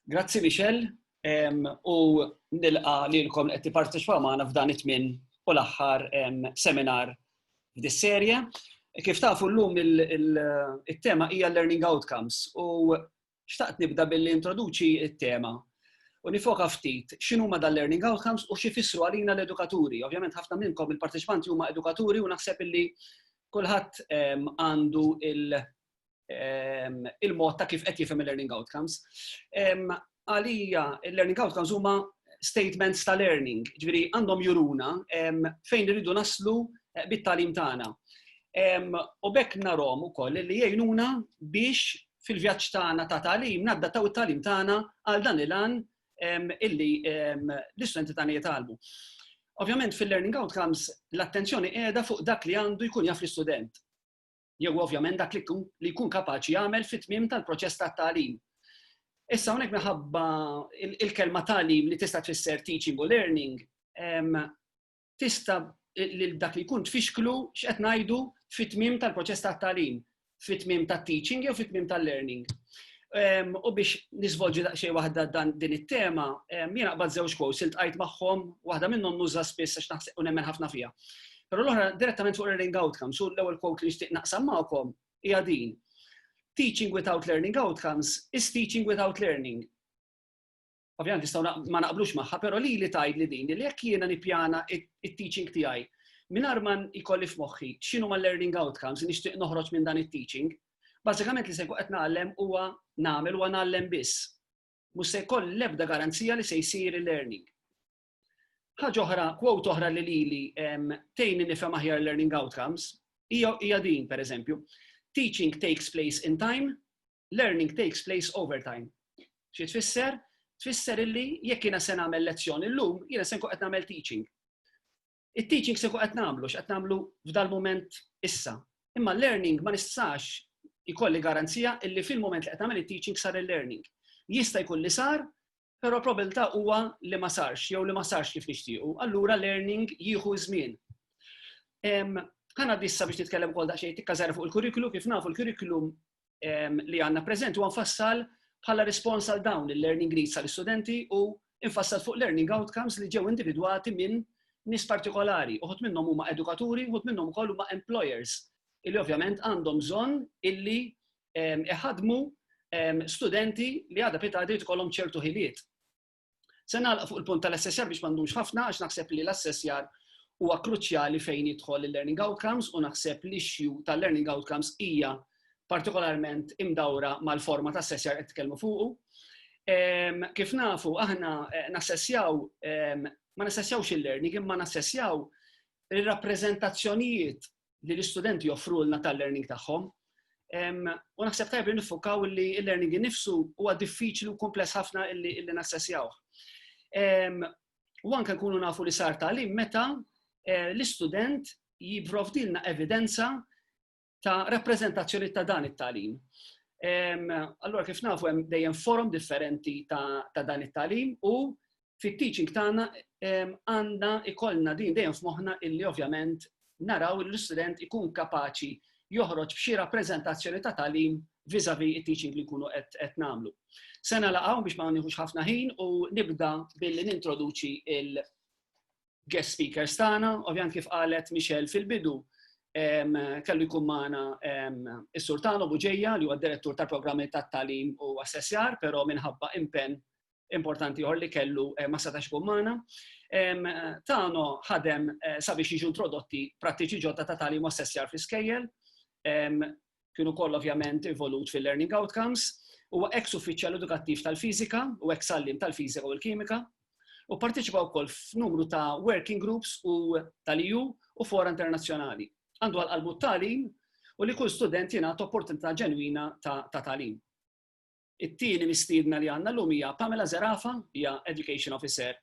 Grazzi Michel, u nilqa li l-kom qed tipparteċipaw magħna f'dan it-tmin u l-aħħar seminar f'dis-serje. Kif tafu llum it-tema hija learning outcomes u Xtaqt nibda billi introduċi t-tema u nifoka ftit x'inhuma dan learning outcomes u xi fissru għalina l-edukaturi. Ovvjament ħafna minnkom il-parteċipanti huma edukaturi u naħseb illi kulħadd ehm, għandu il- ehm, il-mod ta' kif qed jifhem il-learning outcomes. Ehm, għalija, il-learning outcomes huma statements ta' learning, ġviri għandhom juruna fejn rridu naslu eh, bit-talim tagħna. U bekk narom ukoll li jgħinuna biex fil-vjaġġ tagħna ta' tagħlim naddattaw it-tagħlim tagħna għal dan il-għan illi l-istudenti tagħna jitgħallmu. Ovvjament fil-learning outcomes l-attenzjoni qiegħda fuq dak li għandu jkun jaf l-istudent. Jew ovvjament dak li jkun kapaċi jagħmel fit-tmiem tal-proċess tat-tagħlim. Issa hawnhekk minħabba il-kelma tagħlim li tista' tfisser teaching u learning, tista' lil dak li jkun tfixklu x'qed ngħidu fit-tmiem tal-proċess tat-tagħlim, fit-tmiem tat-teaching jew fit-tmiem tal-learning. Ehm, u biex nisvolġi daqsxejn waħda dan din it-tema, ehm, jiena qbad żewġ quotes iltqajt magħhom, waħda minnhom nuża spiss għax naħseb u nemmen ħafna fiha. Però l-oħra direttament fuq learning outcomes, su l-ewwel quote li nixtieq naqsam magħkom hija din. Teaching without learning outcomes is teaching without learning. ovvjament nistgħu ma naqblux magħha, però li li tajd li din li jekk jiena nippjana it-teaching tiegħi mingħajr ma jkolli f'moħħi x'inhu ma learning outcomes li nixtieq noħroġ minn dan it-teaching, bażikament li se qed nagħlem huwa nagħmel huwa nagħlem biss. Mhux se jkoll l-ebda garanzija li se jsir il-learning. Ħaġa oħra, kwot oħra li lili tejni nifhem aħjar learning outcomes hija din pereżempju. Teaching takes place in time, learning takes place over time. Xi tfisser? Tfisser illi jekk jiena se nagħmel lezzjoni llum, jiena se nkun qed nagħmel teaching. It-teaching se nkun qed nagħmlu x'qed nagħmlu f'dal-mument issa. Imma learning ma nistax ikolli garanzija illi fil-mument li qed nagħmel it-teaching sar il-learning. Jista' jkun li sar, Però probabilità huwa li ma sarx jew li ma sarx kif nixtiequ, allura learning jieħu żmien. Ħana dissa biex nitkellem ukoll daqsxejn tikka żgħira fuq il-kurrikulu kif nafu l-kurrikulum li għandna preżent huwa nfassal bħala rispons għal dawn il-learning needs tal-istudenti u infassal fuq learning outcomes li ġew individwati minn nis partikolari, uħut minnhom huma edukaturi, uħut minnhom ukoll huma employers, illi ovvjament għandhom bżonn illi iħadmu studenti li għadha pita għadid ikollhom ċertu ħiliet. Se nagħlaq fuq il-punt tal-assessjar biex m'għandux ħafna għax naħseb li l-assessjar huwa kruċjali fejn jidħol il-learning outcomes u naħseb li xju tal-learning outcomes hija partikolarment imdawra mal-forma ta' assessjar qed tkellmu fuqu. Kif nafu, aħna eh, nassessjaw, ma nassessjawx il-learning, imma nassessjaw il-rappreżentazzjonijiet li l-istudenti joffrulna tal-learning tagħhom. U naħseb tajb li nifukaw li l-learning innifsu huwa diffiċli u kumpless ħafna illi nassessjaw. U anke nkunu nafu li sar talim meta eh, l-istudent jibrovdilna evidenza ta' rappresentazzjoni ta' dan it-talim. Allora kif nafu hemm dejjem forum differenti ta' dan it-talim u fit-teaching tagħna għandna ikollna din dejjem f'moħħna illi ovvjament naraw li l-istudent ikun kapaċi joħroġ b'xi rappreżentazzjoni ta' tagħlim vizavi it-teaching li nkunu qed nagħmlu. Sena laqgħu biex ma nieħux ħafna ħin u nibda billi nintroduċi il guest speakers tagħna, ovvjament kif qalet Michelle fil-bidu kellu jkun magħna is-Sultano Buġeja li huwa direttur tal-programmi tat-talim u assessjar, però minħabba impenn importanti ieħor li kellu eh, ma setax ikun magħna. Tano ħadem eh, sabiex jiġu introdotti prattiċi ġodda ta' tali mossessjar fi skejjel, kienu koll ovvjament involut fil-learning outcomes, u ex uffiċjal edukattiv tal-fizika u ex allim tal-fizika u l-kimika, u parteċipa wkoll f'numru ta' working groups u tal-EU u fora internazzjonali. Għandu għal-qalbu t-talim u li kull student jingħata opportunità ġenwina ta' talim. It-tieni mistiedna li għandna llum hija Pamela Zerafa, hija Education Officer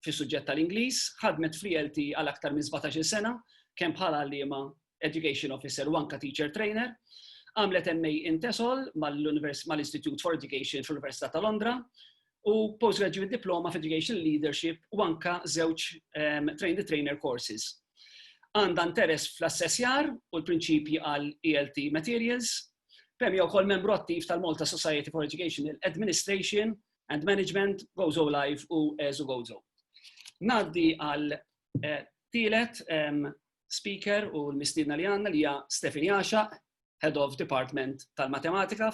fis-suġġett tal-Ingliż, ħadmet fl-ELT għal aktar minn 17-il sena, kemm bħala għalliema Education Officer u anka Teacher Trainer. Għamlet MA in TESOL mal-Istitute for Education fl-Università ta' Londra u Postgraduate Diploma f'Education Leadership u anka żewġ Train the Trainer courses. Għandha interess fl-assessjar u l-prinċipji għal ELT Materials. Pemja hija wkoll membru attiv tal-Malta Society for Educational Administration and Management, Gozo Live u Ezu Gozo. Naddi għal eh, tielet speaker u l-mistidna li għanna li hija Stefani Għaxaq Head of Department tal-Matematika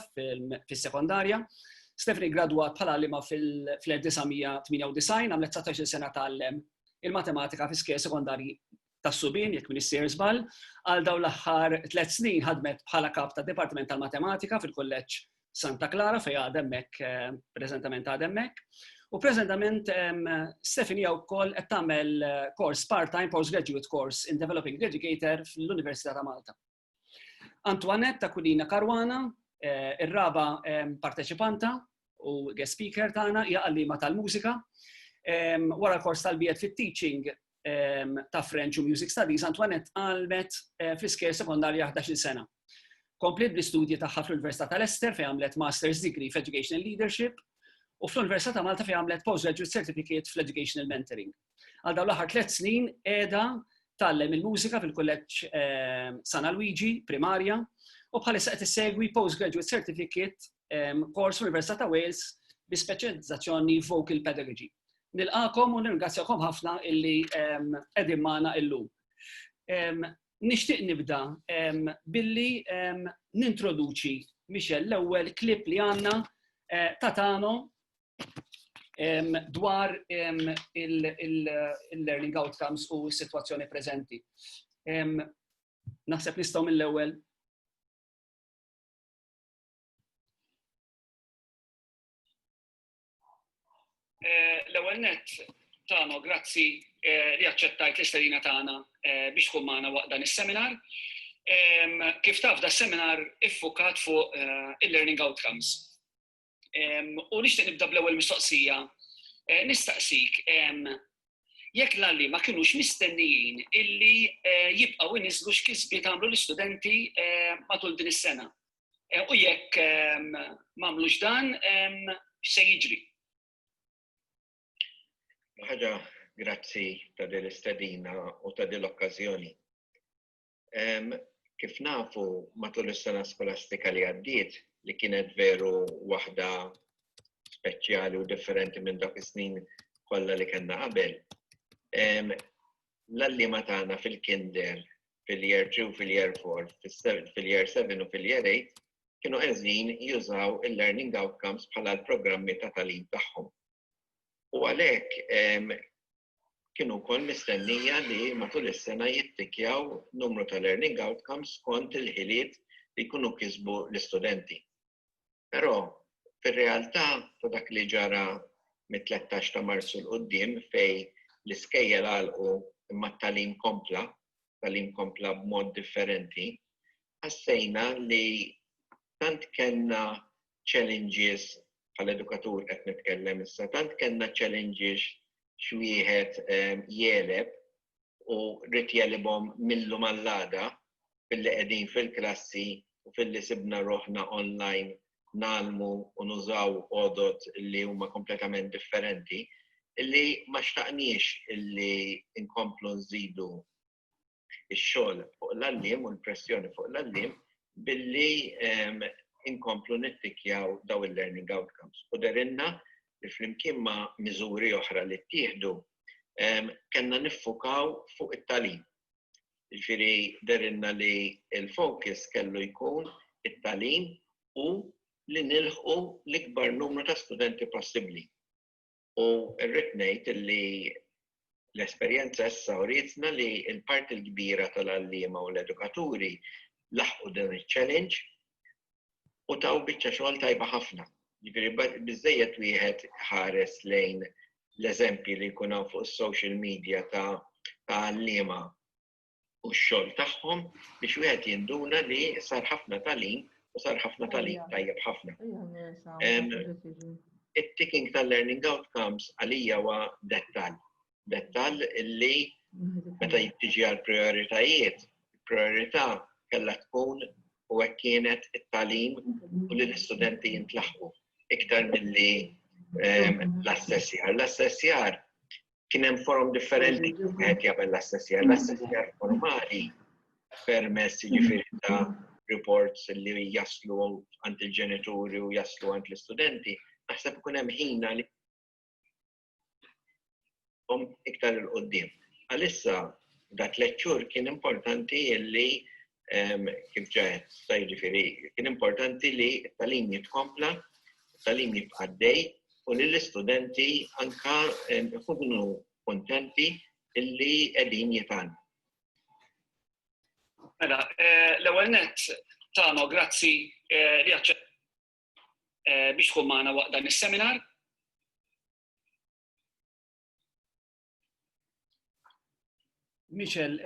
fis-sekondarja. Stephanie gradwat bħala għalima fil-1998 għamlet 19 sena tgħallem il-matematika fi skejl sekondarji tas-subin, jekk min issir żball, għal dawn l-aħħar tliet snin ħadmet bħala kap ta' Dipartiment tal-Matematika fil-Kulleġġ Santa Clara fejn għademmek, eh, preżentament għademmek. U preżentament Stephanie wkoll qed tagħmel eh, kors part-time postgraduate course in Developing Educator fl-Università ta' Malta. Antoinette Aquilina Caruana, eh, ir-raba eh, parteċipanta u guest speaker tagħna hija għallima tal-mużika. Eh, wara l-kors tal-biet fit-teaching ta' French u Music Studies, Antoinette għalmet fl-isker sekondarja 11 sena. Komplet bl-istudji tagħha fl-Università tal-Ester fejn għamlet Master's Degree f'Educational Leadership u fl-Università ta' Malta fejn għamlet Postgraduate Certificate fl-Educational Mentoring. Għal dawn l-aħħar tliet snin qiegħda tgħallem il-mużika fil-kulleġġ ehm, Sana Luigi, primarja, u bħalissa qed issegwi postgraduate certificate ehm, kors Università ta' Wales bi speċjalizzazzjoni vocal pedagogy. Nilqakom u nirringrazzjakom ħafna illi ehm, qegħdin magħna illum. Nixtieq nibda billi nintroduċi Michel l-ewwel klip li għandna eh, ta' Tano dwar il-learning outcomes u s-situazzjoni preżenti. Naħseb nistgħu mill-ewwel eh, L-ewwel net tagħna grazzi eh, li aċċettajt l-isterina tagħna eh, biex tkun magħna waqt dan is-seminar. Kif taf da seminar iffukat fuq il-learning outcomes U nixtieq nibda bl-ewwel mistoqsija. Eh, nistaqsik, jekk l-għalli ma kienux mistennijin illi eh, jibqaw inizlu x'kisbi tagħmlu l-istudenti eh, matul din is-sena. U jekk m'għamlux dan, x'se jiġri? Ħaġa, grazzi ta' din l-istedina u ta' din l-okkażjoni. Kif nafu, matul is-sena skolastika li għaddiet, li kienet veru waħda speċjali u differenti minn dak is-snin kollha li kellna qabel, l-għalliema tagħna fil-kinder, fil-year 2, fil-year 4, fil-year 7 u fil-year 8 kienu qegħdin jużaw il-learning outcomes bħala l-programmi ta' tagħlim tagħhom. U għalhekk Kien ukoll mistennija li matul is-sena jittikjaw numru ta' learning outcomes skont il-ħiliet li jkunu kisbu l-istudenti. Però, fir-realtà ta' dak li ġara mit-tlettax ta' Marzu 'l quddiem fejn l-iskejjel għalqu imma t-tagħlim kompla, t-tagħlim kompla b'mod differenti, ħassejna li tant kellna challenges bħala edukatur qed nitkellem issa, tant kellna challenges x'wieħed ehm, jeleb u rrid jelibhom millu mal-għada billi qegħdin fil-klassi u filli sibna roħna online nalmu u nużaw odot li huma kompletament differenti illi ma xtaqniex illi inkomplu nżidu ix-xogħol fuq l-għalliem u l-pressjoni fuq l-għalliem billi inkomplu nittikkjaw dawn il-learning outcomes. U derilna li flimkien ma' miżuri oħra li ttieħdu kellna niffukaw fuq it-tagħlim. Ġifieri derilna li l-fokus kellu jkun it-tagħlim u li nilħqu l-ikbar numru ta' studenti possibbli. U rrid ngħid li l-esperjenza issa urietna li l-parti l-kbira tal-għalliema u l-edukaturi laħqu dan iċ-challenge u taw biċċa xogħol tajba ħafna. Jiġifieri biżżejjed wieħed ħares lejn l-eżempji li jkun hawn fuq is-social media ta' għalliema u x-xogħol tagħhom biex wieħed jinduna li sar ħafna talim u sar ħafna talim tajjeb ħafna. It-ticking tal-learning outcomes għalija huwa dettal. Dettal li meta jittiġi għal prioritajiet, priorità kellha tkun u hekk kienet it-talim u li l-istudenti jintlaħqu iktar milli l-assessjar. L-assessjar kien hemm forum differenti qed jagħmel l-assessjar. L-assessjar formali permess jiġifieri ta' reports li jaslu għand il-ġenituri u jaslu għand l-istudenti, naħseb ikun hemm ħina li iktar il-qoddim. Għalissa, dat lecture kien importanti li kif ġajet, sa jiġifieri, kien importanti li t-talim jitkompla, t-talim jibqa' dej, u li l-istudenti anka jkunu kontenti illi qegħdin jitgħallmu. Mela, eh, l-ewwel nett tagħna u grazzi eh, li għacċa eh, biex tkun magħna waqt dan is-seminar. Michel,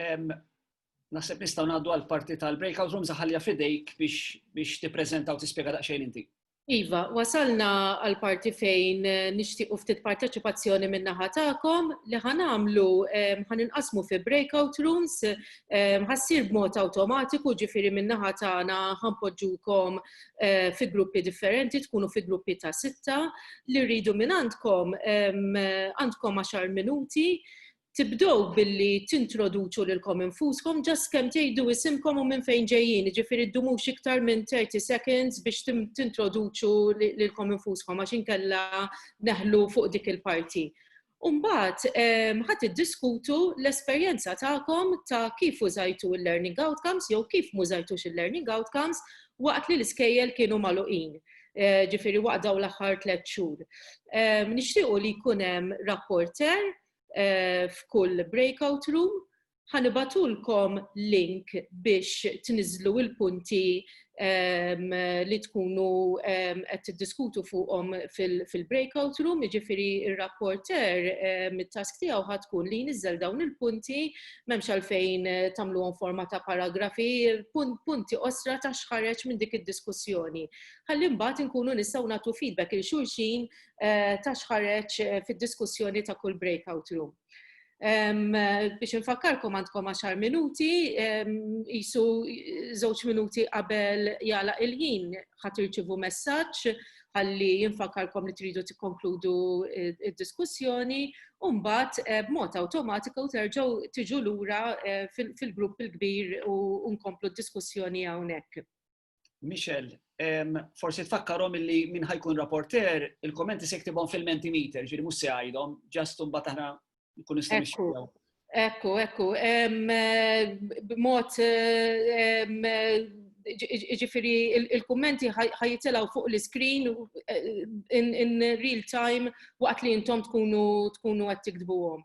naħseb nistgħu ngħaddu għal parti tal-breakout rooms ħalja fidejk biex biex tippreżenta u tispjega daqsxejn inti. Iva, wasalna għal parti fejn eh, nixtiequ ftit parteċipazzjoni minn naħa tagħkom li ħanamlu ħan inqasmu fi breakout rooms ħassir b'mod awtomatiku ġifieri minn naħa tagħna ħanpoġġukom fi gruppi differenti, tkunu fi gruppi ta' sitta, li rridu minn għandkom għandkom għaxar minuti, tibdow billi tintroduċu lilkom infuskom ġas kemm tgħidu isimkom u minn fejn ġejjin, ġifieri ddumux iktar minn 30 seconds biex tintroduċu lilkom infuskom għax inkella neħlu fuq dik il-parti. U mbagħad ħa tiddiskutu l-esperjenza tagħkom ta' kif użajtu l-learning outcomes jew kif mużajtux il-learning outcomes waqt li l-iskejjel kienu magħluqin. Eh, ġifiri waqt daw l-aħħar tliet xhur. Eh, nixtiequ li jkun hemm rapporter eh, f'kull breakout room ħa nibgħatulkom link biex tniżżlu l-punti li tkunu qed tiddiskutu fuqhom fil-breakout room, jiġifieri r-rapporter mit-task tiegħu ħa tkun li jniżżel dawn il-punti m'hemmx għalfejn tagħmluhom forma ta' paragrafi, punti qosra ta' x'ħareġ minn dik id-diskussjoni. Ħalli mbagħad inkunu nistgħu nagħtu feedback lil xulxin ta' x'ħareġ fid-diskussjoni ta' kull breakout room. Biex infakkarkom għandkom 10 minuti, jisu żewġ minuti qabel jala il-ħin ħat irċivu messaġġ ħalli jinfakkarkom li tridu tikkonkludu id-diskussjoni u mbagħad eh, b'mod awtomatiku terġgħu tiġu lura eh, fil-grupp il-kbir u nkomplu d-diskussjoni hawnhekk. Michel, forsi tfakkarhom illi min ħajkun rapporter, il-kommenti se ktibhom fil-mentimeter, ġiri mhux se għajdhom, ġast imbagħad aħna nkunu nistgħu Ekku, ekku. B'mod ġifiri il-kummenti ħajitilaw fuq l-screen in real time waqt li jintom tkunu tkunu għed tikdbuhom.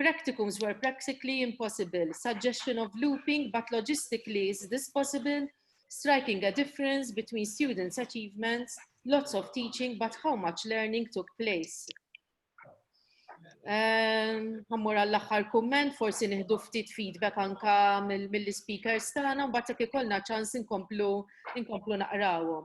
Practicums were practically impossible, suggestion of looping but logistically is this possible, striking a difference between students' achievements, lots of teaching but how much learning took place. Għammur għall aħħar kumment, forsi nieħdu ftit feedback anka mill-speakers tagħna, mbagħad jekk ikollna ċans inkomplu inkomplu naqrawhom.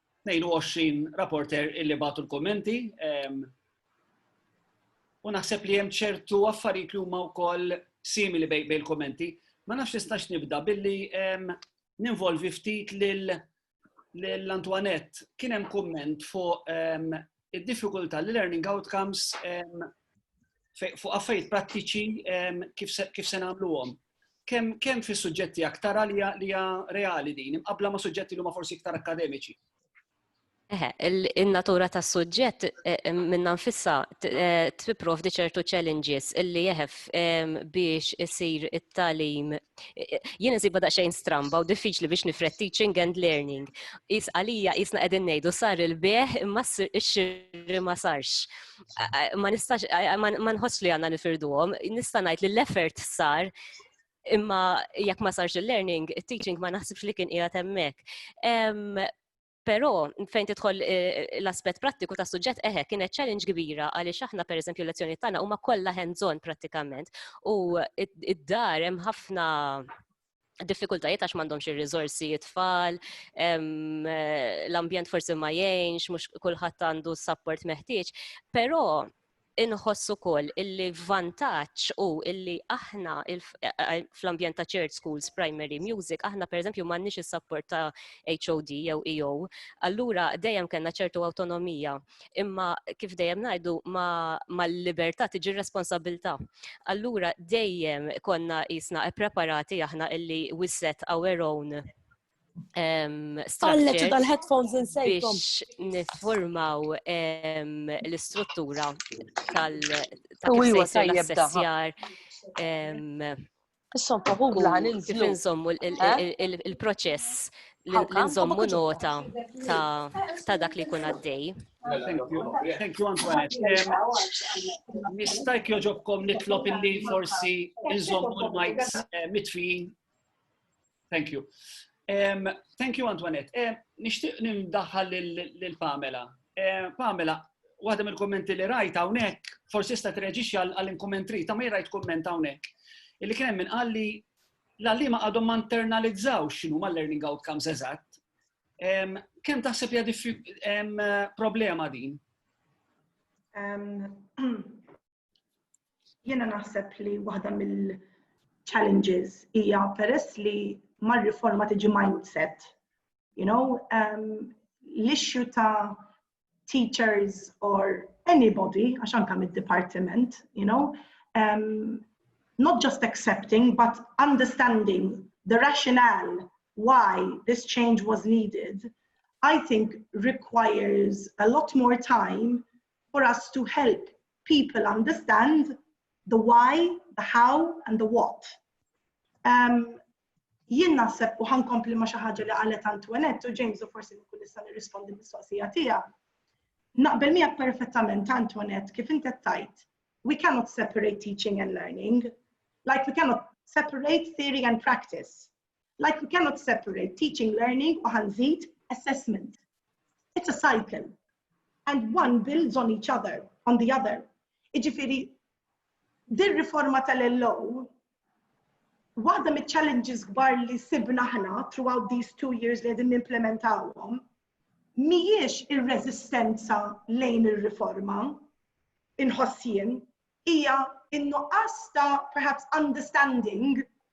22 rapporter illi batu l-kommenti. U naħseb li hemm ċertu affarijiet li huma wkoll simili bej il-kommenti. Ma nafx nistax nibda billi ninvolvi ftit lil l-Antoinette. Kien hemm komment fuq id-diffikultà li learning outcomes fuq affarijiet prattiċi kif se nagħmluhom. Kemm kemm fis-suġġetti aktar li hija reali din, imqabla ma' suġġetti li huma forsi iktar akademiċi. Eħe, il-natura ta' suġġett eh, eh, minna nfissa eh, tipprovdi ċertu challenges illi jeħef ehm, biex isir it-talim Jien insibha daqsxejn stramba u diffiċli biex nifred teaching and learning. Is għalija isna qegħdin ngħidu sar il-beħ imma x-xirri ma sarx. Ma nistax ma nħoss li għandna nifirduhom, nista' ngħid li l-effort sar imma jekk ma sarx il-learning, it-teaching ma naħsibx li kien qiegħed hemmhekk. Però fejn tidħol eh, l-aspett prattiku ta' suġġett eħe eh, kienet challenge kbira għaliex aħna pereżempju l-lezzjoni tagħna huma kollha hands-on prattikament u id-dar hemm ħafna diffikultajiet għax m'għandhomx ir-riżorsi jitfall, eh, l-ambjent forsi ma jgħinx, mhux kulħadd għandu s-sapport meħtieġ, però inħoss ukoll illi vantaġġ u illi aħna fl-ambjent ta' church schools, primary music, aħna pereżempju m'għandniex is-sapport ta' HOD jew EO, allura dejjem kellna ċertu awtonomija. Imma kif dejjem ngħidu mal-libertà tiġi responsabilità. Allura dejjem konna jisna preparati aħna illi we set our own Għalleċu dal-headphones insejkom. Biex nifformaw l-istruttura tal-sessjar. Issom faħuħ laħan il-nżommu il-proċess l-nżommu nota ta' dak li kun għaddej. Thank you, Antoinette. Nistajk joġobkom nitlop illi forsi nżommu l-mics eh, mitfijin Thank you. Um, thank you, Antoinette. Um, Nishtiq nindaħħal l-Pamela. Um, Pamela, waħda mill-kommenti li rajt hawnhekk, forsi sta treġixxi għall-inkommentri, ta' ma rajt komment hawnhekk. Illi kien hemm qalli l-għallima għadhom ma internalizzaw x'inhu ma learning outcomes eżatt. Kemm taħseb hija problema din? Jiena naħseb li waħda mill-challenges hija peress li mar-riforma tiġi mindset. You know, um, l-issue ta' teachers or anybody, għax anka mid-departiment, you know, um, not just accepting, but understanding the rationale why this change was needed, I think requires a lot more time for us to help people understand the why, the how and the what. Um, jien naħseb u ħankompli ma xi ħaġa li qalet Antoinette u James u forsi nkun nista' nirrispondi mistoqsija tiegħu. Naqbel miegħek perfettament Antoinette kif inti tajt. We cannot separate teaching and learning. Like we cannot separate theory and practice. Like we cannot separate teaching learning u ħanżid assessment. It's a cycle and one builds on each other, on the other. Iġifiri, dir riforma tal-LO, waħda mit challenges kbar li sibna ħna throughout these two years li għedin implementawhom, miex ir-rezistenza lejn ir-riforma, inħossien, hija in-nuqqas ta' perhaps understanding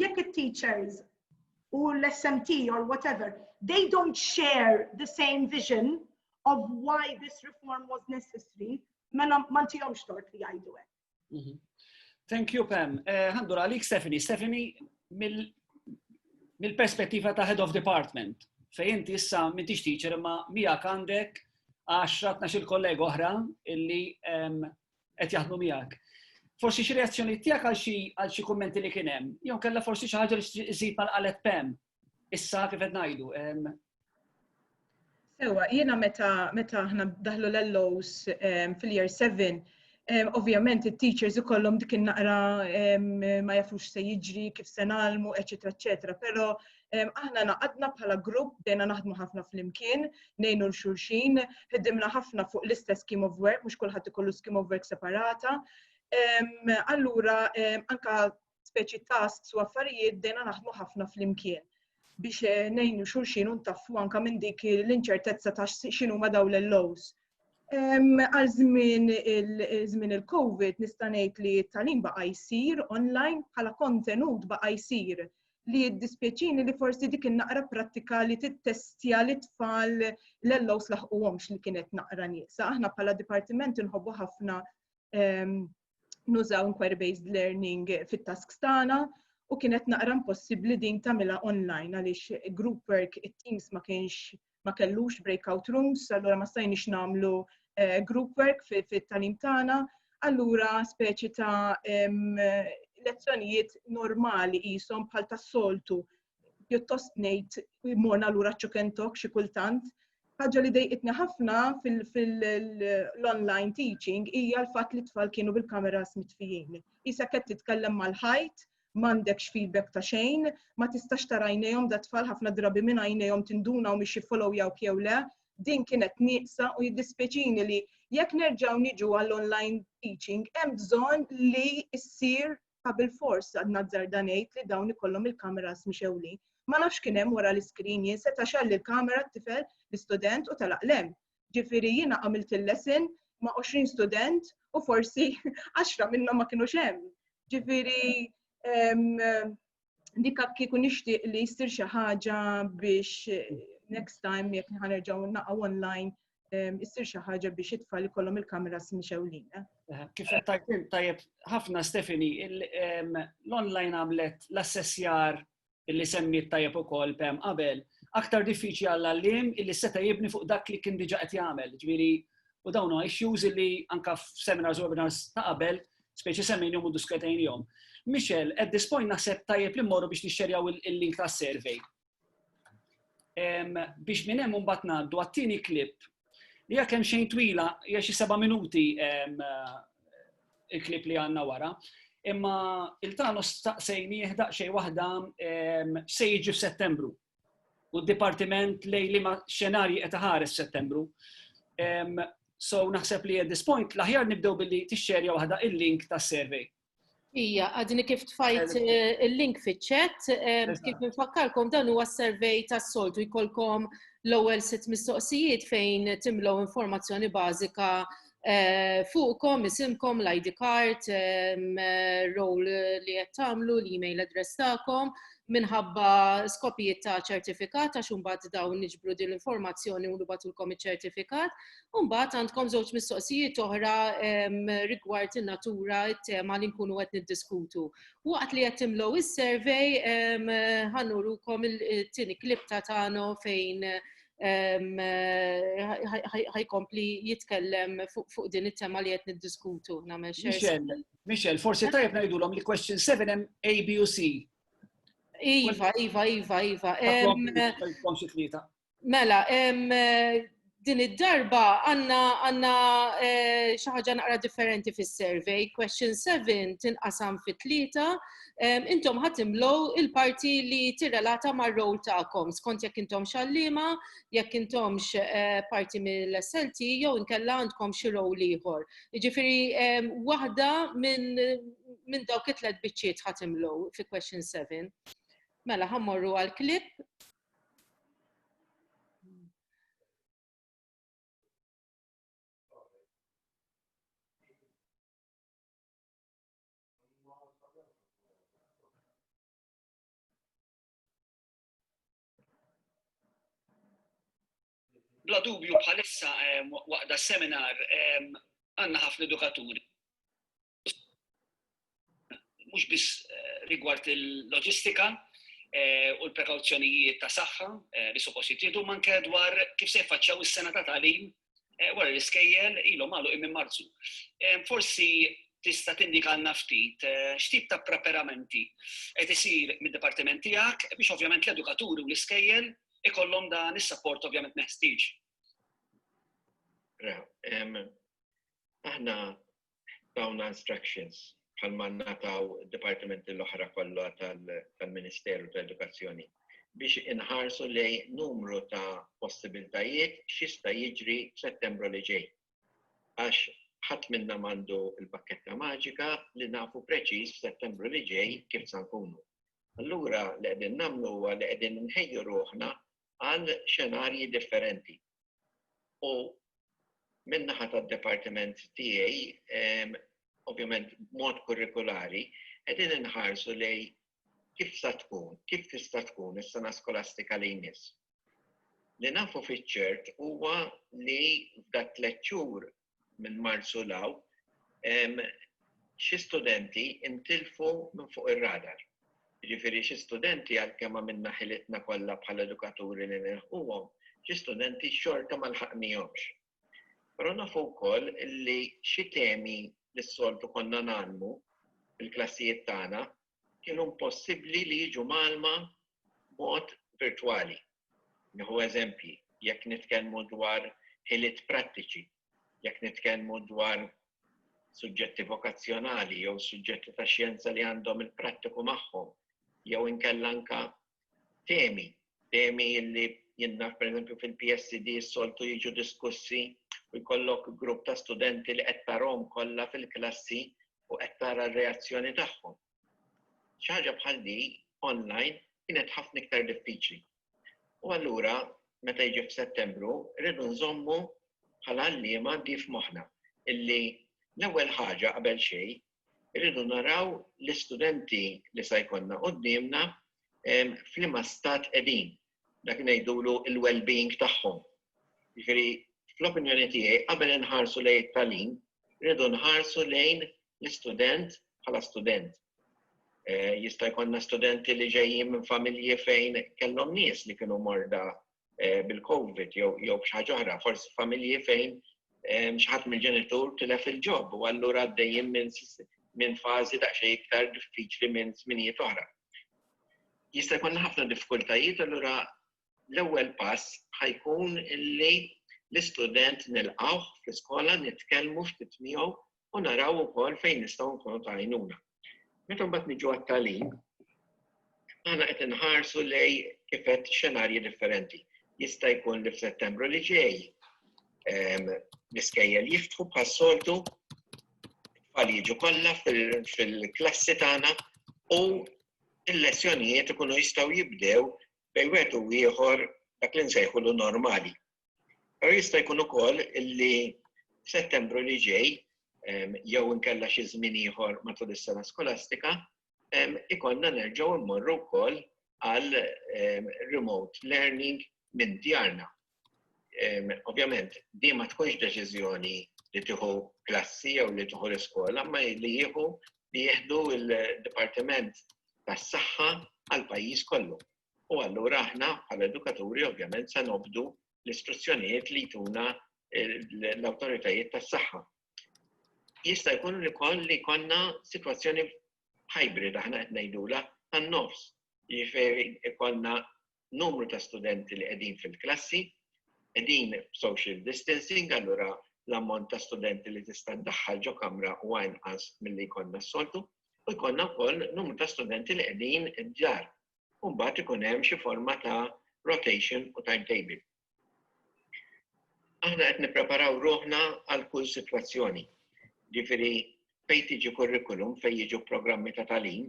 jekk it-teachers u l-SMT or whatever, they don't share the same vision of why this reform was necessary, mela ma ntihomx tort li jgħidu hekk. Mhm. Thank you, Pam. Eh, Għandur uh, għalik, Stephanie. Stephanie, mill-perspettiva ta' head of department, fej inti issa mintix teacher imma mija għandek 10-12 kollega oħra illi qed jaħdmu miegħek. Forsi xi reazzjoni tiegħek għal xi għal xi kummenti li kien hemm, jew kellha forsi xi ħaġa li żid mal qalet Pam. Issa kif qed ngħidu. Sewa, jiena meta meta aħna daħlu l-lows fil-year 7, ovvjament it-teachers ikollhom dik in-naqra ma jafux se jiġri, kif se nagħlmu, eċetera, eċetera, però Aħna naqadna bħala grupp, bdejna naħdmu ħafna flimkien, nejnu l-xulxin, ħedimna ħafna fuq l-istess scheme of work, mhux kulħadd ikollu scheme of work separata. Allura, anka speċi tasks u affarijiet bdejna naħdmu ħafna flimkien biex eh, nejnu xulxin un taffu anka minn dik l-inċertezza ta' xinu ma daw l-lows. Għal żmien il-żmien il-COVID nista' ngħid li t-talim baqa' jsir online bħala kontenut baqa' jsir li jiddispjaċini li forsi dik naqra prattika li tittestja li tfal l-ellows laħquhomx li kienet naqra nieqsa. Aħna bħala dipartiment inħobbu ħafna ehm, nużaw inquiry-based learning fit-tasks tagħna u kienet naqra impossibbli din tagħmilha online għaliex group work it-teams ma kienx ma kellux breakout rooms, allura ma stajniex nagħmlu eh, group work fit-talim tagħna, allura speċi ta' lezzjonijiet normali jisom bħal tas-soltu pjuttost ngħid morna lura ċukentok xi kultant. Ħaġa li dejqitni ħafna fil-online teaching hija l-fatt li tfal kienu bil-kameras mitfijin. Isa qed titkellem mal-ħajt m'għandekx feedback ta' xejn, ma tistax tara għajnejhom da tfal ħafna drabi minn għajnejhom tinduna u miex jiffollowjawk jew le, din kienet nieqsa u jiddispjaċini li jekk nerġgħu niġu għall-online teaching hemm bżonn li ssir ta' bil-fors għad nazzarda ngħid li dawn ikollhom il-kameras mixewlin. Ma nafx kien hemm wara l-iskrin jien seta' xalli l-kamera t-tifel l-istudent u telaq lem. Ġifieri jiena għamilt il-lesson ma' 20 student u forsi 10 minnhom ma kienux hemm. Ġifieri dikka kieku nixtieq li jsir xi ħaġa biex eh, next time jekk ħanerġgħu naqgħu online eh, issir xi ħaġa biex it-tfal ikollhom il-kameras mixewlin. Eh? Kif qed tajtim tajjeb ħafna Stefani, l-online għamlet l-assessjar illi semmiet tajjeb ukoll Pam qabel, aktar diffiċli għall-għalliem illi seta' jibni fuq dak li kien diġà qed jagħmel. Ġifieri, u dawn huma issues illi anke f'seminars u webinars ta' qabel, speċi semmejnihom u diskutejnihom. Michel, at this point naħseb tajjeb li mmorru biex nixxerjaw il-link tas-survey. Biex minn hemm imbagħad ngħaddu għat-tieni klip Hija kemm xejn twila, hija xi seba' minuti il-klip li għandna wara. Imma il-tano staqsejni jihdaq xej waħda se jiġi f'Settembru. U d-dipartiment lej li ma xenarji qed ħares Settembru. So naħseb li at this point l-aħjar nibdew billi tixxerja waħda il-link tas-survey Ija, għadni kif tfajt eh, il-link fiċċet, eh, kif nfakkarkom dan huwa s-survey tas-soltu jkollkom l-ewwel sitt mistoqsijiet fejn timlew informazzjoni bażika eh, fuqkom, isimkom, l-ID card, role li qed tagħmlu, l-email address tagħkom, minħabba skopijiet ta' ċertifikat għax imbagħad dawn niġbru din l-informazzjoni u nibatulkom iċ-ċertifikat Umbat għandkom żewġ mistoqsijiet oħra rigward in-natura, it-tema li nkunu qed niddiskutu. Waqt li qed timlow is-survey ħanurukom il-tieni klip ta' tano fejn ħajkompli jitkellem fuq din it-tema li qed niddiskutu nagħmel xejn. Michel, forsi tajjeb ngħidulhom li question 7 hemm A, B u C. Iva, iva, iva, iva. Mela, din id-darba għanna għanna eh, xi ħaġa naqra differenti fis-survey. Question 7 tinqasam fi tlieta. Intom ħadd imlow il-parti li tirrelata mar-rol tagħkom skont jekk intom xallima, jekk intomx eh, parti mill-SLT jew inkella għandkom xi rol ieħor. Jiġifieri waħda minn dawk it-tlet biċċiet ħadd imlow fi question 7. Mela ħammorru għal klip bla dubju bħalissa waqda seminar għanna ħafna edukaturi mhux biss eh, rigward il-loġistika eh, u l-prekawzjonijiet ta' saħħa eh, li suppost jittieħdu manke dwar kif se jfaċċaw is-sena ta' tagħlim wara l-iskejjel ilhom għalu minn Marzu. Forsi tista' tindikalna ftit x'tip ta' preparamenti qed isir mid-dipartiment tiegħek biex ovvjament l-edukaturi u l-iskejjel ikollhom dan is-sapport ovvjament meħtieġ. Aħna tawna instructions bħalma ngħataw id-dipartimenti l-oħra kollha tal-Ministeru ta' Edukazzjoni biex inħarsu lej numru ta' possibiltajiet x'jista' jiġri f'Settembru li ġej. Għax ħadd minna mandu l-pakketta maġika li nafu preċiż f'Settembru li ġej kif sa nkunu. Allura li qegħdin nagħmlu huwa li qegħdin nħejju ruħna għal xenarji differenti. U min-naħa tad-dipartiment tiegħi, ovvjament b'mod kurrikulari, qegħdin inħarsu lejn kif sa tkun, kif tista' tkun is-sena skolastika li jmiss. Li nafu fiċ-ċert huwa li f'dak tliet xhur minn Marzu 'l hawn, xi studenti ntilfu minn fuq ir-radar. Jiġifieri xi studenti għalkemm għamilna ħilitna kollha bħala edukaturi li nilħquhom, xi studenti xorta ma lħaqnihomx. Però nafu wkoll li xi temi li s-soltu konna ngħallmu fil-klassijiet tagħna kienu impossibbli li jiġu mgħallma b'mod virtwali. Nieħu eżempji, jekk nitkellmu dwar ħiliet prattiċi, jekk nitkellmu dwar suġġetti vokazzjonali jew suġġetti ta' xjenza li għandhom il-prattiku magħhom, jew inkella anka temi, temi li jinnaf per eżempju fil-PSD s-soltu jiġu diskussi u jkollok grupp ta' studenti li qed tarhom kollha fil-klassi u qed tara r-reazzjoni tagħhom. Xi ħaġa bħal di online kienet ħafna iktar diffiċli. U allura meta jiġi f'Settembru rridu nżommu bħala għalliema di f'moħħna illi l-ewwel ħaġa qabel xejn irridu naraw l-istudenti li se jkollna quddiemna f'liema stat qegħdin, dak ngħidulu l-well-being tagħhom. Jiġifieri fl-opinjoni tiegħi qabel inħarsu lejn it-tagħlim, irridu nħarsu lejn l-istudent bħala student. Eh, jista' jkollna studenti li ġejjin minn familji fejn kellhom nies li kienu morda bil-Covid jew xi ħaġa oħra, forsi familji fejn xħat mill-ġenitur tilef il-ġob u allura għaddejjin minn min fażi daqsxejn iktar diffiċli minn żminijiet oħra. Jista' jkun ħafna diffikultajiet allura l-ewwel pass ħajkun illi l-istudent nilqgħu fl-iskola nitkellmu ftit miegħu u naraw ukoll fejn nistgħu nkunu ta' għajnuna. Meta mbagħad niġu għat-tagħlim, aħna qed inħarsu lej kif qed xenarji differenti. Jista' jkun li f'Settembru li ġej ehm, l-iskejjel jiftħu bħas-soltu tfal jiġu kollha fil-klassi tagħna u l-lezzjonijiet ikunu jistgħu jibdew bejn wieħed u ieħor dak li nsejħulu normali. Pero jista' jkun ukoll li f'Settembru li ġej jew inkella xi żmien ieħor matul is-sena skolastika ikollna nerġgħu mmorru wkoll għal remote learning minn djarna. Ovvjament, di ma tkunx deċiżjoni li tieħu klassi jew li tieħu l-iskola, ma li jieħu li jieħdu l-Dipartiment tas-Saħħa għal pajjiż kollu. u allura aħna bħala edukaturi ovvjament se nobdu l-istruzzjonijiet li jtuna l-awtoritajiet tas-saħħa. Jista' jkun li koll li konna situazzjoni hybrid aħna qed ngħidula għan-nofs. Jiġifieri konna numru ta' studenti li qegħdin fil-klassi, qegħdin social distancing, allura l-ammont ta' studenti li tista' ddaħħal ġo kamra u inqas milli jkollna s-soltu, u jkollna wkoll numru ta' studenti li qegħdin id-djar u mbagħad ikun hemm xi forma ta' rotation u timetable. Aħna qed nippreparaw ruħna għal kull sitwazzjoni. Ġifieri fejn tiġi kurrikulum fejn jiġu programmi ta' talim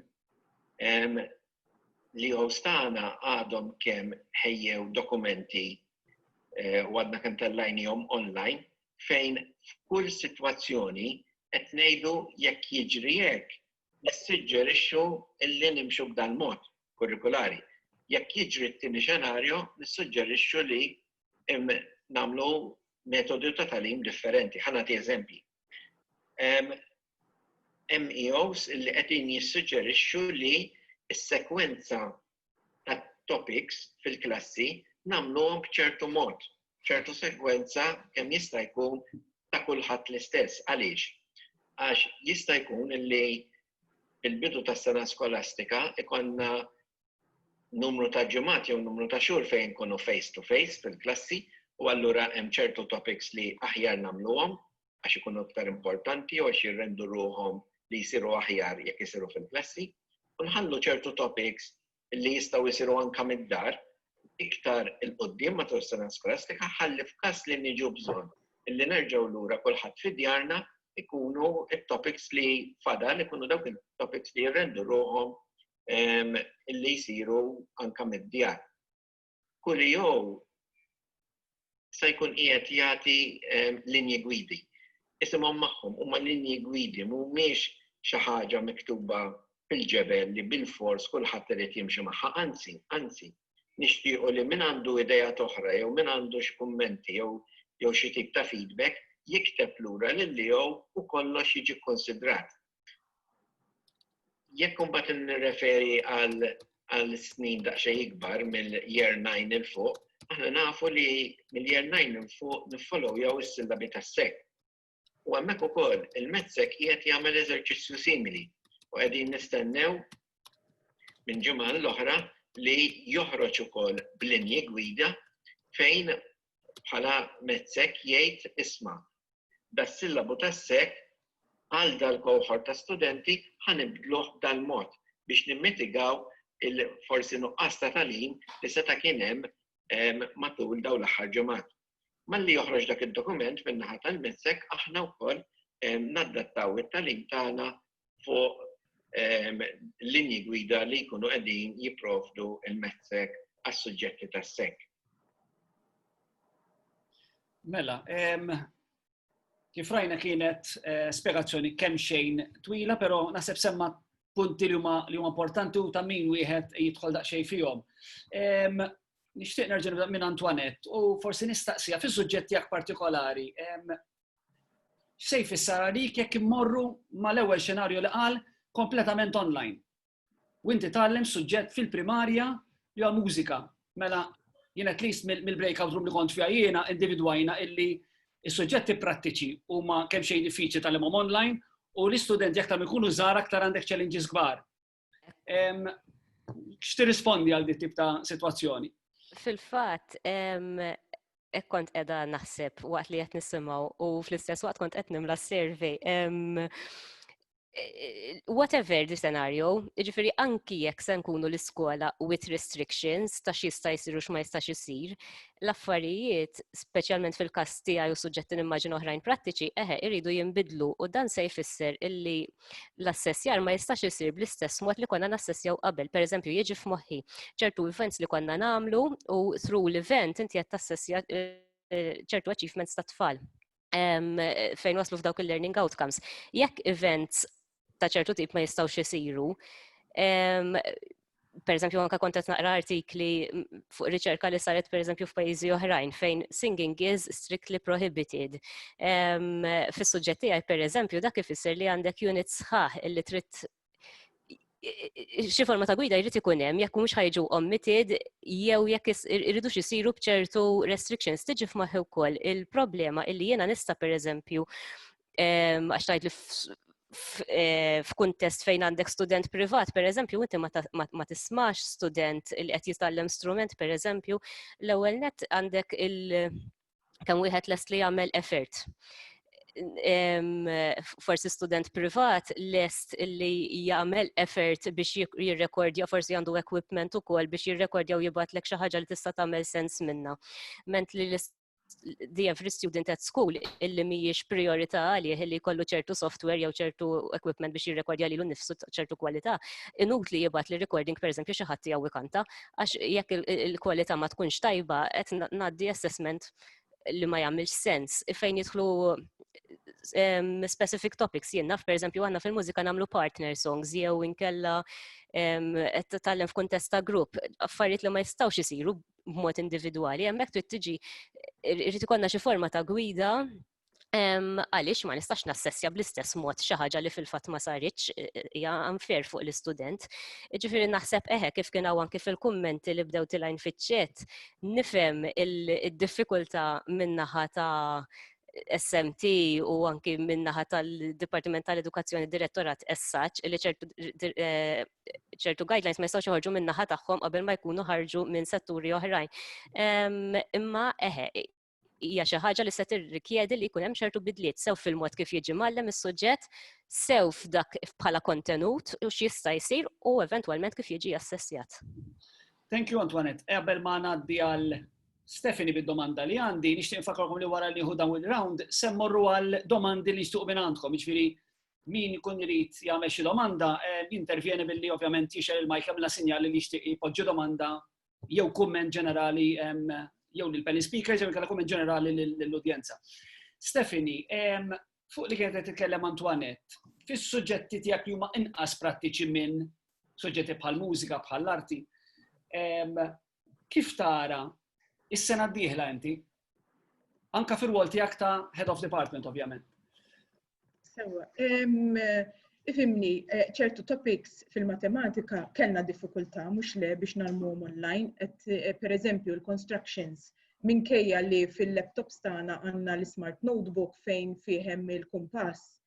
li għostana għadhom kemm ħejjew dokumenti eh, u għadna kemm tellajnihom online fejn f'kull sitwazzjoni qed ngħidu jekk jiġri hekk nissuġġerixxu li nimxu b'dan mod kurrikulari. Jekk jiġri t-tieni xenarju, nissuġġerixxu li nagħmlu metodu ta' tagħlim differenti. Ħa nagħti eżempji. MEOs li qegħdin jissuġġerixxu li s-sekwenza tat-topics fil-klassi nagħmluhom b'ċertu mod, b'ċertu segwenza kemm jista' jkun ta' kulħadd l-istess. Għaliex? Għax jista' jkun li fil-bidu tas-sena skolastika ikollna numru ta' ġimgħat jew numru ta' xhur fejn inkunu face to face fil-klassi u allura hemm ċertu topics li aħjar nagħmluhom għax ikunu iktar importanti jew għax jirrendu ruħhom li jsiru aħjar jekk isiru fil-klassi, u nħallu ċertu topics li jistgħu jsiru anke mid-dar iktar 'il quddiem matul is-sena skolastika ħalli f'każ li niġu bżonn li nerġgħu lura kulħadd fi djarna ikunu it-topics li fadal ikunu dawk it-topics li jirrendu ruħhom li jsiru anke mid-djar. Coolio se jkun qiegħed jagħti linji gwidi. Isimhom magħhom huma linji gwidi mhumiex xi ħaġa miktuba fil-ġebel li bilfors kulħadd irid jimxi magħha, anzi, anzi, nixtiequ li min għandu ideat oħra jew min għandu xi kummenti jew jew xi tip ta' feedback jikteb lura lil Leo u kollox jiġi kkunsidrat. Jekk imbagħad nirreferi għal snin daqsxejn ikbar mill-year 9 il fuq, aħna nafu li mill-year 9 il fuq niffollow jew is-sillabi tas-sek. U hemmhekk ukoll il-medsek qiegħed jagħmel eżerċizzju simili u qegħdin nistennew minn ġimgħa l-oħra li joħroġ ukoll b'linji gwida fejn bħala mezz-hekk jgħid isma', das-sillabu tas-sek għal dal-cohort ta' studenti ħa nibdluh b'dal-mod biex nimmitigaw il-forsi nuqqas ta' tagħlim li seta' kien hemm matul dawn l-aħħar ġimgħat. Malli joħroġ dak id-dokument min-naħa tal-mezz-hekk aħna wkoll naddattaw it-tagħlim tagħna fuq linji gwida li jkunu qegħdin jipprovdu il-messek għas-suġġetti tas-sek. Mela, kif rajna kienet eh, spiegazzjoni kemm xejn twila, però naħseb semma punti li huma li huma importanti u ta' min wieħed jidħol daqsxejn fihom. Nixtieq nerġa' nibda minn Antoinette u forsi nistaqsija fis-suġġett jak partikolari. X'se jfisser għalik jekk immorru mal-ewwel xenarju li qal kompletament online? U inti tgħallem suġġett fil-primarja li huwa mużika. Mela jien at least mill-breakout room li kont fiha jiena individwajna illi is-suġġetti prattiċi huma kemm xejn diffiċli tal-imhom online u l-istudenti aktar ikunu żgħar aktar għandek challenges kbar. X'ti rispondi għal dit tip ta' sitwazzjoni? Fil-fatt, ek kont edha naħseb waqt li qed nisimgħu u fl-istess waqt kont qed nimla survey. Whatever the scenario, ġifiri anki jekk se nkunu l-iskola with restrictions ta' x'jista' jsir u x'ma jistax isir, l-affarijiet, speċjalment fil-każ tiegħi u suġġetti nimmaġin oħrajn prattiċi, eħe iridu jinbidlu u dan se jfisser illi l-assessjar ma jistax isir bl-istess mod li konna nassessjaw qabel. Per eżempju, jieġi f'moħħi ċertu events li konna namlu u through l-event inti qed tassessja eh, ċertu achievements ta' tfal fejn waslu f'dawk il-learning outcomes. Jekk events ta' ċertu tip ma jistawx isiru, per eżempju, anka kontet naqra artikli fuq riċerka li saret per eżempju f'pajjiżi oħrajn fejn singing is strictly prohibited. Fis-suġġetti għaj per eżempju dak ifisser li għandek unit sħaħ illi trid xi forma ta' gwida jrid ikun hemm jekk mhux ħajġu omitted jew jekk irridu isiru bċertu restrictions tiġi f'maħħi wkoll il-problema illi jiena nista' pereżempju għax tajt li eh, f'kuntest fejn għandek student privat, per eżempju, inti ma tismax student li qed jitgħallem strument, per eżempju, l-ewwel net għandek il- kemm wieħed lest li jagħmel effort forsi student privat lest li jagħmel effort biex jirrekordja forsi għandu equipment ukoll biex jirrekordja u jibgħatlek xi ħaġa li tista' tagħmel sens minna. Ment li the every student at school illi mhijiex priorità għalih illi jkollu ċertu software jew ċertu equipment biex jirrekordja lilu nnifsu ċertu kwalità, inutli jibgħat li recording pereżempju xi ħadd jew ikanta għax jekk il-kwalità ma tkunx tajba qed ngħaddi assessment li ma jagħmilx sens fejn jidħlu specific topics jien naf pereżempju għandna fil-mużika nagħmlu partner songs jew inkella qed tallem f'kuntest ta' grupp affarijiet li ma jistgħux isiru b'mod individwali, hemmhekk trid tiġi irid ikollna xi forma ta' gwida għaliex ma nistax nassessja bl-istess mod xi ħaġa li fil-fatt ma saritx e, e, hija unfair fuq l-istudent. Ġifieri naħseb eħe kif kien hawn anki fil-kummenti li bdew tilajn fiċ-ċet, nifhem il-diffikultà min-naħa ta' SMT u anki minnaħa tal-Dipartiment tal-Edukazzjoni Direttorat essaċ li ċertu e, ċertu guidelines ma jistgħux joħorġu minn naħa tagħhom qabel ma jkunu ħarġu minn setturi oħrajn. Imma eħe, hija xi ħaġa li se tirrikjedi li jkun hemm ċertu bidliet sew fil-mod kif jiġi mallem is-suġġett, sew f'dak bħala kontenut u x'jista' jsir u eventwalment kif jiġi assessjat. Thank you Antoinette. Qabel ma ngħaddi għal Stefani bid-domanda li għandi, nixtieq nfakkarkom li wara li nieħu dawn il-round, semmorru għal domandi li nixtuq minn għandkom, jiġifieri min ikun irid jagħmel xi domanda jintervjeni billi ovvjament jixel il-majk jagħmilha sinjali li jixtieq jpoġġi domanda jew kumment ġenerali jew lil panel speakers jew inkella kumment ġenerali lill-udjenza. Stephanie, fuq li kienet titkellem Antoinette, fis-suġġetti tiegħek li huma inqas prattiċi minn suġġetti bħal mużika, bħal arti, kif tara is-sena d-dieħla inti? Anka fir-rwol tiegħek ta' head of department ovvjament. Sewa, ifimni eh, ċertu topics fil-matematika kellna diffikultà mhux le biex nalmuhom online, qed eh, pereżempju l-constructions minkejja li fil-laptops tagħna għandna l-smart notebook fejn fihem il-kumpass.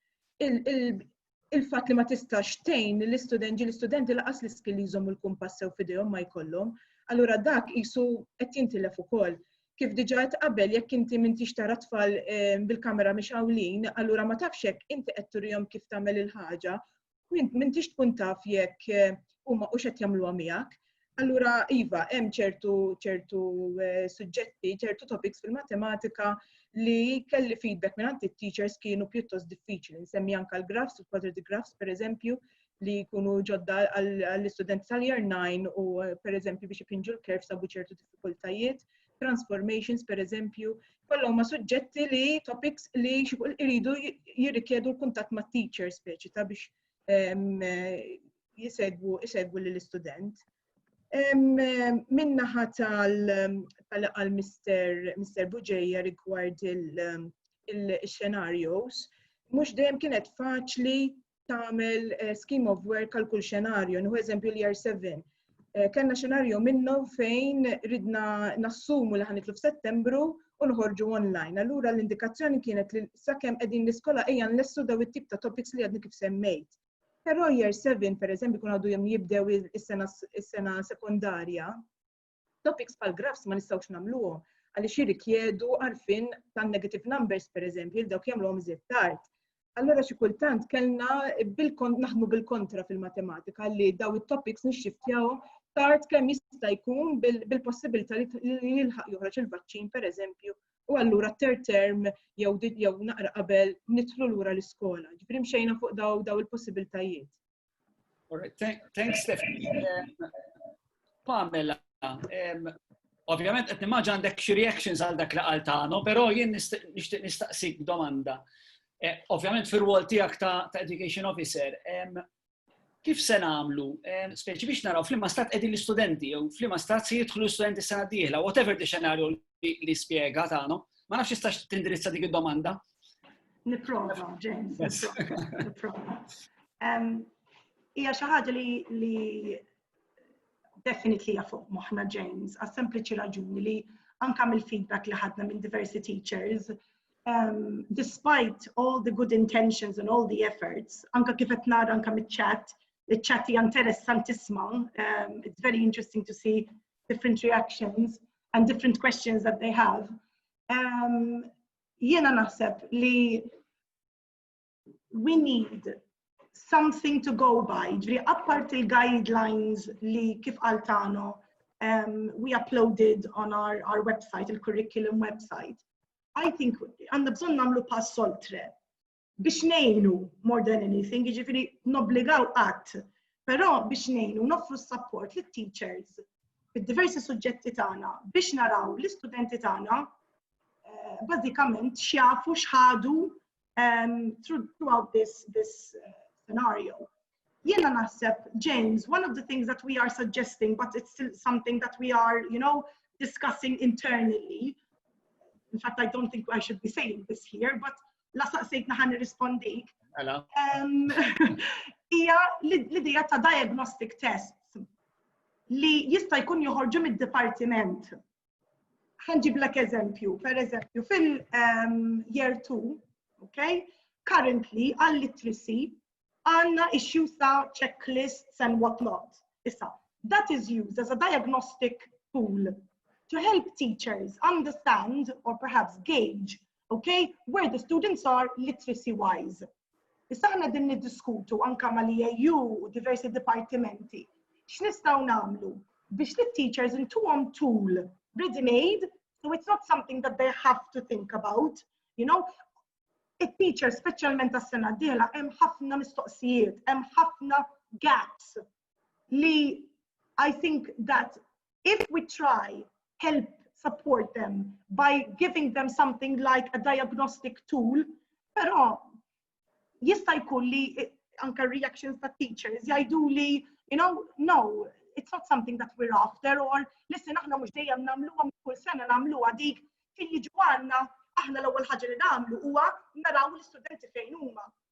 il-fatt li ma tistax tgħin lill-istudent ġieli studenti laqas l-iskill li jżommu l-kumpass sew f'idejhom ma jkollhom, allura dak qisu qed jintilef ukoll. Kif diġà qed qabel jekk inti m'intix tara tfal ehm, bil-kamera mixgħulin, allura ma tafx hekk inti qed turihom kif tagħmel il-ħaġa, m'intix tkun taf jekk eh, huma hux qed jagħmluha miegħek. Allura, iva, hemm ċertu ċertu eh, suġġetti, ċertu topics fil-matematika li kelli feedback minn għanti teachers kienu pjuttost diffiċli. Nsemmi anka l-grafs, il-quadratic grafs, per eżempju, li jkunu ġodda għall-istudenti tal-year 9 u eh, per eżempju biex ipinġu l-kerf sabu ċertu diffikultajiet, transformations per eżempju, kollha ma suġġetti li topics li iridu jirrikjedu l-kuntatt ma' teachers speċi ta' biex ehm, eh, jisegwu isegwu lill-istudent. Minnaħa tal-għal Mr. Buġeja rigward il-xenarios, mhux dejjem kienet faċli tagħmel eh, scheme of work għal kull xenarju, nħu eżempju l-year 7 Eh, kellna xenarju minnu fejn ridna nassumu li ħanitlu f'Settembru u nħorġu online. Allura l-indikazzjoni kienet li sakemm qegħdin l-iskola ejja nlessu daw it-tip ta' topics li għadni kif semmejt. Però year seven, pereżempju, jkun għadu jom jibdew is-sena sekondarja, topics bħal graphs ma nistgħux nagħmluhom għaliex jirrikjedu għarfien tan-negative numbers pereżempju li dawk jagħmluhom iżjed tard. Allora xi kultant kellna naħdmu bil-kontra fil-matematika li daw it-topics nixxiftjawhom tard kemm jista' jkun bil-possibilità li jilħaq joħroġ il-vaċċin pereżempju u allura t-third term jew jew naqra qabel nidħlu lura l-iskola. Ġifieri mxejna fuq daw daw il-possibiltajiet. Thanks Stephanie. Um, Pamela, um, ovvjament qed nimmaġa għandek xi reactions għal dak li qal tagħna, però jien nixtieq nistaqsik domanda. Eh, ovvjament fir-rwol tiegħek ta' education officer, um, kif se nagħmlu, eh, speċi biex naraw flimma stat qegħdin l-istudenti jew flimma stat se jidħlu l-istudenti sena d-dieħla, whatever di xenarju li spjega tagħna, ma nafx jistax tindirizza dik id-domanda. Nipprova, James. Nipprova. Hija xi ħaġa li definitely hija fuq moħħna James, għas sempliċi raġuni li anka mill-feedback li ħadna minn diversi teachers, um, despite all the good intentions and all the efforts, anka kif qed nara anka mit-chat, il-chat hija interessantissima, um, it's very interesting to see different reactions and different questions that they have. Um, jiena naħseb li we need something to go by, ġri appart il-guidelines li kif għaltano um, we uploaded on our, our website, il-curriculum website. I think għanna bżon namlu pass oltre biex nejnu more than anything, ġifiri nobligaw għat, pero biex nejnu nofru s-support li teachers fil-diversi suġġetti tagħna biex naraw l-istudenti tagħna eh, bażikament xjafu xħadu um, through, throughout this, this uh, scenario. Jena naħseb, James, one of the things that we are suggesting, but it's still something that we are, you know, discussing internally. In fact, I don't think I should be saying this here, but la saqsejtna ħan nirrispondik. Um, Ija l-idea ta' diagnostic tests li jista' jkun joħorġu mid-dipartiment ħanġiblek eżempju, per eżempju, fil-year ehm, 2, okay, currently għall-literacy għanna issues ta' checklists and whatnot. Issa, that is used as a diagnostic tool to help teachers understand or perhaps gauge okay, where the students are literacy wise. Issa aħna din niddiskutu anka ma li EU u diversi dipartimenti. X'nistgħu nagħmlu biex li teachers intuhom tool ready made, so it's not something that they have to think about, you know, it-teacher speċjalment tas-sena d-dieħla hemm ħafna mistoqsijiet, hemm ħafna gaps li I think that if we try help support them by giving them something like a diagnostic tool, però jista' jkun li anka reactions ta' teachers jgħidu li, you know, no, it's not something that we're after, or listen, aħna mhux dejjem nagħmluha kull sena nagħmluha dik kien jiġu għandna aħna l-ewwel ħaġa li nagħmlu huwa naraw l-istudenti fejn huma.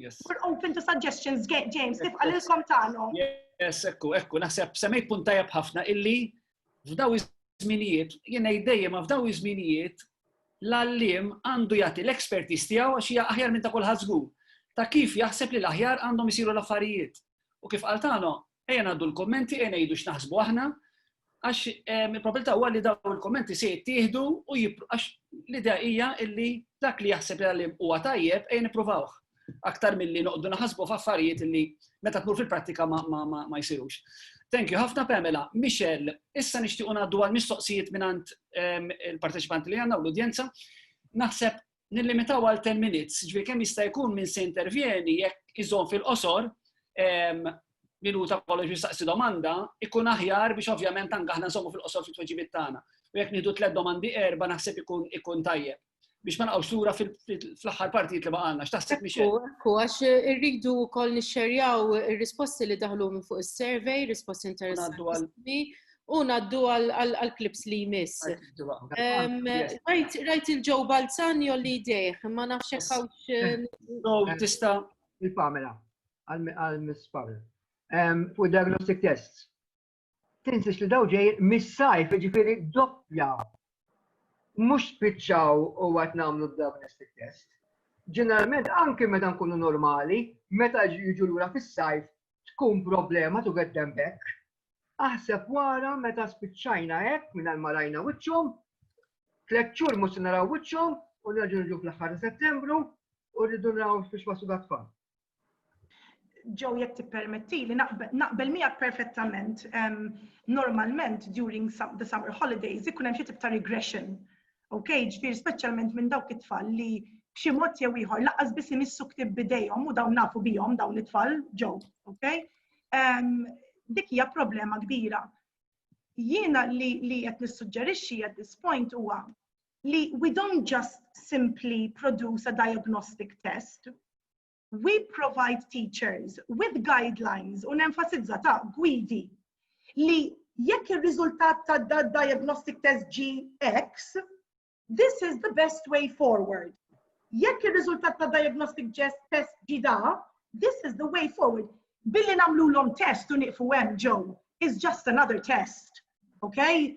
Yes. We're open to suggestions, James, kif għalilkom tagħhom. Yes, ekku, ekku, naħseb semmejt punt tajjeb ħafna illi f'daw iż-żminijiet, jiena dejjem ma f'daw iż-żminijiet l-allim għandu jagħti l-expertise tiegħu għax hija aħjar minn ta' kulħadd żgur ta' kif jaħseb li l-aħjar għandhom isiru l-affarijiet. U kif qal tagħna, Ejja ngħaddu l-kommenti, ejja ngħidu x'naħsbu aħna, għax ehm, il-probabilità huwa li dawn il-kommenti se jittieħdu u għax l-idea hija illi dak li jaħseb li huwa tajjeb ejja nippruvawh aktar milli noqdu naħasbu f'affarijiet illi meta tmur fil-prattika ma jsirux. Thank you ħafna Pamela. Michelle, issa nixtiequ ngħaddu għal mistoqsijiet mingħand ehm, il-parteċipanti li għandna u l-udjenza. Naħseb nillimitaw għal 10 minutes, ġvi kemm jista' jkun minn se intervjeni jekk iżon fil-qosor ehm, minuta kollox jistaqsi domanda, ikun aħjar biex ovvjament anke aħna nżommu fil-qosor fit-tweġibiet tagħna. U jekk nieħdu tliet domandi erba' naħseb ikun ikun tajjeb biex ma naqgħux lura fl-aħħar partijiet li baqalna. X'taħseb miex Ekku, għax irridu wkoll nixxerjaw ir-risposti li daħlu minn fuq is-survey, risposti interessanti. u naddu għal-klips li jmiss. Rajt il-ġo balzan jolli jdejħ, ma nafx kawx. Eh, tista il-Pamela, għal-Miss Pamela. Fuq diagnostic tests. Tinsiex li daw ġej mis-sajf, ġifiri doppja. Mux spiċċaw u għat namlu diagnostic test. Ġeneralment, anki meta nkunu normali, meta jiġu l-ura fis-sajf, tkun problema tu get them back Aħseb wara meta spiċċajna hekk mingħajr ma rajna wiċċhom, tliet xhur mhux se naraw wiċċhom u nerġgħu niġu fl-aħħar ta' Settembru u rridu naraw fiex waslu dat-tfal. Joe jekk tippermettili naqbel miegħek perfettament. Normalment during the summer holidays ikun hemm xi tip ta' regression Ok, ġifieri speċjalment minn dawk it-tfal li b'xi mod jew ieħor laqas biss imissu ktib bidejhom u dawn nafu bihom dawn it-tfal ġew, ok? Ehm, dik hija problema kbira. Jiena li li qed nissuġġerixxi at this point huwa li we don't just simply produce a diagnostic test We provide teachers with guidelines u nenfasizza ta' gwidi li jekk ir-riżultat ta' da diagnostic test GX, this is the best way forward. Jekk ir-riżultat ta' diagnostic test ġida, this is the way forward. Billi namlu l-om test u niqfu hemm ġew is just another test. Okay?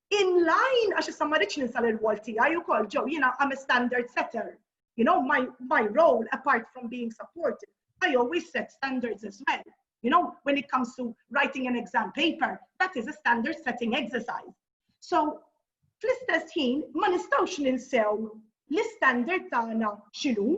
in line, għax issa ma rridx ninsa l-rwol tiegħi wkoll ġew jiena I'm a standard setter. You know, my, my role, apart from being supportive, I always set standards as well. You know, when it comes to writing an exam paper, that is a standard setting exercise. So, fl-istess ħin, ma nistawx ninsew l-standard tagħna xinu,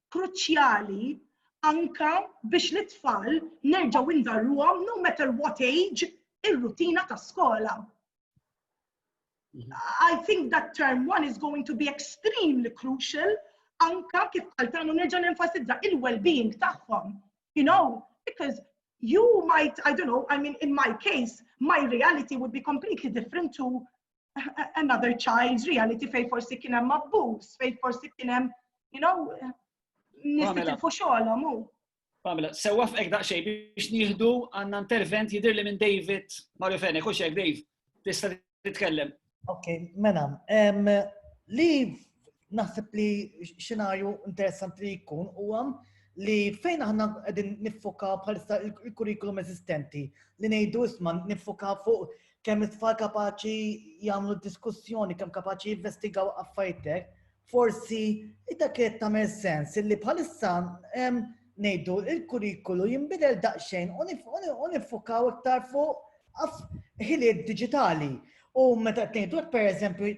kruċjali anka biex l-itfal nerġgħu indarruhom no matter what age ir-rutina ta' skola. I think that term one is going to be extremely crucial anka kif għaltanu nerġa' nenfasizza il-well-being tagħhom. You know, because you might, I don't know, I mean, in my case, my reality would be completely different to another child's reality fej forsi kien hemm abbuż, fej forsi kien hemm, you know, nistitilfu xogħolhom hu. Pamela, sewwa f'ek daqsxejn biex nieħdu għandna intervent jidir li minn David Mario Fene, kux hekk Dave, tista' titkellem. Ok, mena, li naħseb li xenarju interessanti li jkun huwa li fejn aħna qegħdin niffoka bħalissa il-kurrikulum eżistenti li ngħidu isma' niffoka fuq kemm it-tfal kapaċi jagħmlu diskussjoni, kemm kapaċi jinvestigaw affaritek, forsi dak qed tagħmel sens li bħalissa ngħidu il-kurrikulu jinbidel daqsxejn u nifukaw iktar fuq ħiliet diġitali. U meta tnejdu per eżempju,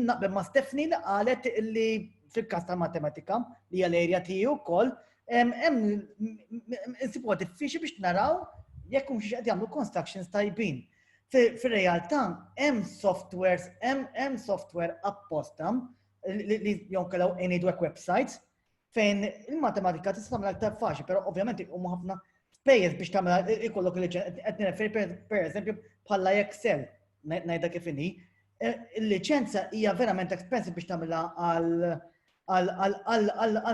naqbel ma' Stefni li qalet li fil-kas ta' matematika, li hija l-erja tiegħi wkoll, hemm insibuha diffiċli biex naraw jekk hum xi qed jagħmlu constructions tajbin. Fir-realtà hemm softwares, hemm software apposta li jonkellaw ngħidu hekk websites fejn il-matematika tista' tagħmel aktar faċli, però ovvjament huma ħafna spejjeż biex tagħmel ikollok il-liċenza. Qed nirreferi pereżempju bħala Excel ngħidha kif inhi. E, il-liċenza hija verament expensive biex tagħmilha għal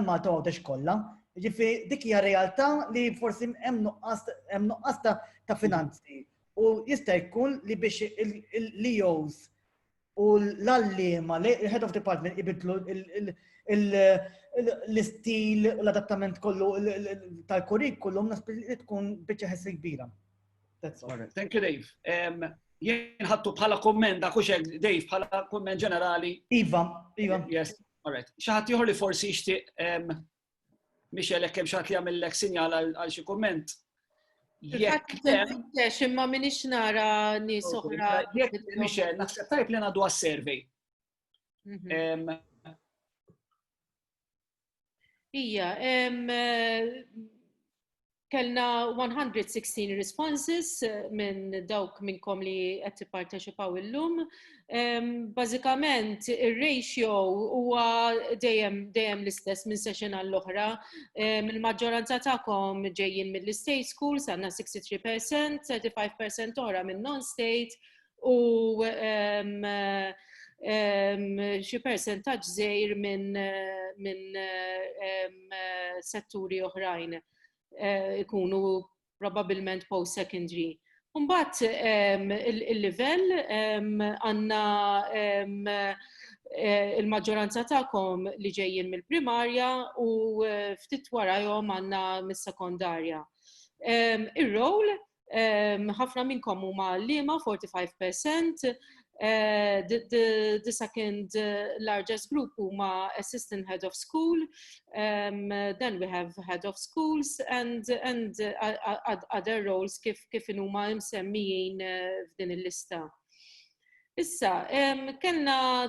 Malta għodex kollha. Ġifi dik hija realtà li forsi hemm nuqqas ta' finanzi u jista' jkun li biex l-EOs u l-allima, l-head of department ibidlu l-istil u l-adattament kollu tal-kurrikulum nasbi li tkun biċċa ħessi kbira. Thank you, Dave. Um, jien ħattu bħala komment, da kuxek, Dave, bħala komment ġenerali. Iva, Iva. Yes, all right. Xaħat jħor li forsi xtiq um, Michel, jekk hemm xatt li jagħmellek sinjal għal xi kumment. Jekk imma minix nara nies oħra. Jekk Michel, naħseb tajb li ngħadu għas-survey. Mhm. Ija, eh, Kellna 116 responses minn dawk minnkom li qed tipparteċipaw illum. Bażikament ir-ratio huwa dejjem dejjem l-istess minn session għall-oħra. Il-maġġoranza tagħkom ġejjin mill-state schools għandna 63%, 35% oħra minn non-state u xi persentaġġ żgħir minn setturi oħrajn ikunu probabbilment post-secondary. Imbagħad il-livell għandna l-maġġoranza tagħkom li ġejjin mill-primarja u ftit warajhom għandna mis-sekondarja. Ir-role ħafna minnkom huma liema 45%, Uh, the, the, the second uh, largest group huma assistant head of school, um, then we have head of schools and, and uh, other roles kif, kif huma msemmijin uh, f'din il-lista. Issa, um, kellna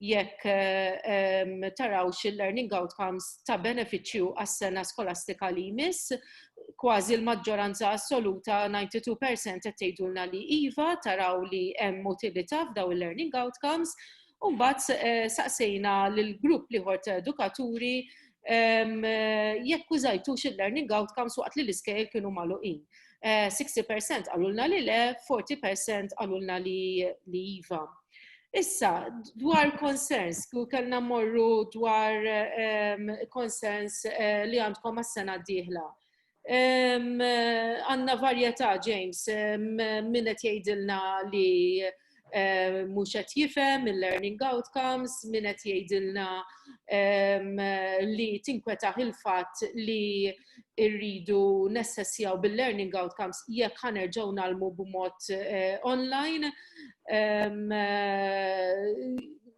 jekk tarawx il-learning outcomes ta' benefiċċju għas-sena skolastika li jmiss, kważi l-maġġoranza assoluta 92% qed tgħidulna li iva, taraw li hemm utilità f'daw il-learning outcomes, u mbagħad saqsejna lill-grupp liħor ta' edukaturi jekk użajtux il-learning outcomes waqt li l-iskejjel kienu magħluqin. 60% għalulna li le, 40% għalulna li iva. Issa, dwar concerns, ku kellna morru dwar ehm, concerns eh, li għandkom għas-sena d-dieħla. Ehm, għanna varjetà, James, ehm, minnet jgħidilna li mhux qed jifhem il-learning outcomes, min qed jgħidilna li tinkwetaħ il-fatt li rridu nessessjaw bil-learning outcomes jekk ħanerġgħu nalmu b'mod eh, online. Eh,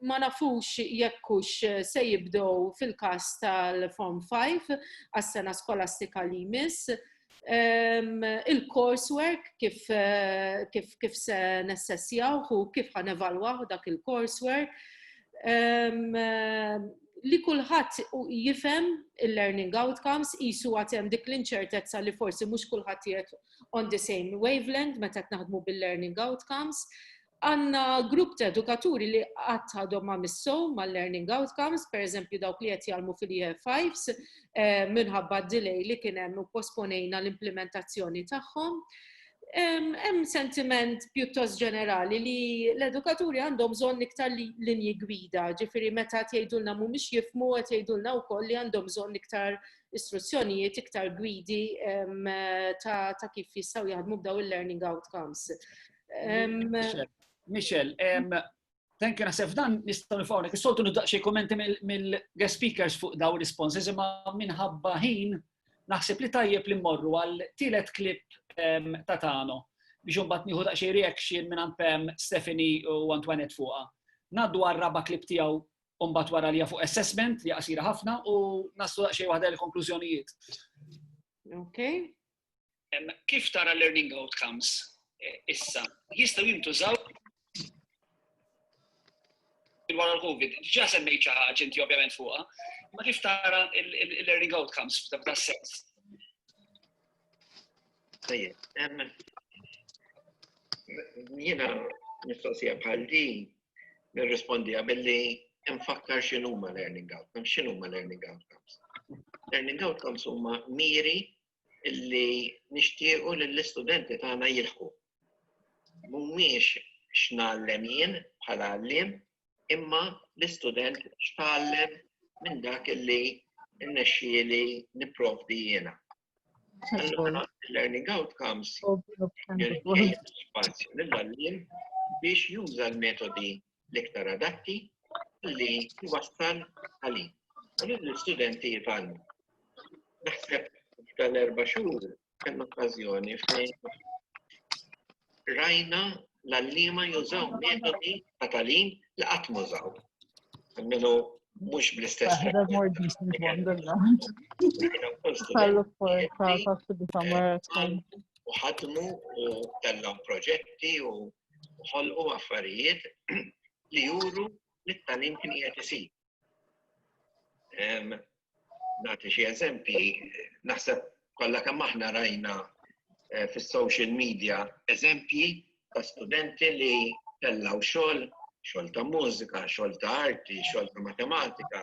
ma nafux jekkux se jibdow fil-kas tal-Form 5 għas-sena skolastika li jmiss il-coursework kif kif kif se nessessjaw u kif ħan evalwaw dak il-coursework li kulħadd jifhem il-learning outcomes qisu għad hemm dik l-inċertezza li forsi mhux kulħadd qiegħed on the same wavelength meta qed naħdmu bil-learning outcomes Għandna grupp ta' edukaturi li qatt għadhom ma missew mal-learning outcomes, pereżempju dawk li qed jgħallmu fil-Year Fives, minħabba d-delay li kien hemm u pposponejna l-implimentazzjoni tagħhom. Hemm sentiment pjuttost ġenerali li l-edukaturi għandhom bżonn iktar linji gwida, ġifieri meta qed jgħidulna mhumiex jifhmu qed jgħidulna wkoll li għandhom bżonn iktar istruzzjonijiet, iktar gwidi ta' kif jistgħu jaħdmu b'dawn il-learning outcomes. Michel, thank you naħseb dan nistgħu nifgħu is-soltu nibda xi kummenti mill-guest speakers fuq daw responses imma minħabba ħin naħseb li tajjeb li mmorru għal tielet klip ta' tagħna biex imbagħad nieħu daqsxejn reaction minn għand Pam, Stephanie u Antoinette fuqha. Naddu għal raba' klip tiegħu u mbagħad wara li fuq assessment li qasira ħafna u naslu daqsxejn waħda l-konklużjonijiet. Okay. Kif tara learning outcomes issa? Jistgħu jintużaw wara l-COVID. Ġa semmejt xi ħaġa inti ovvjament fuqha, ma kif tara il-learning outcomes f'dak sens. Tajjeb, jiena mistoqsija bħal din nirrispondi billi nfakkar x'inhuma learning outcomes, x'inhuma learning outcomes. Learning outcomes huma miri li nixtiequ li l-istudenti tagħna jilħqu. Mhumiex x'nallem jien bħala għalliem, imma l-istudent x'tgħallem minn dak li nnexxieli nipprovdi jiena. Allura, learning outcomes spazju lill-għalliem biex juża l-metodi l-iktar adatti li jwassal għalih. U l-istudenti jifalmu. Naħseb tal-erba xhur hemm okkażjoni fejn rajna l-allima jużaw metodi ta' talim li qatt mużaw. Almenu mhux bl-istess. U ħadmu u kellhom proġetti u u ħolqu affarijiet li juru li t-tagħlim kien qiegħed isir. Nagħti xi eżempji, naħseb kollha kemm aħna rajna eh, fis-social media eżempji ta' studenti li tellaw xogħol, xogħol ta' mużika, xogħol ta' arti, xogħol ta' matematika,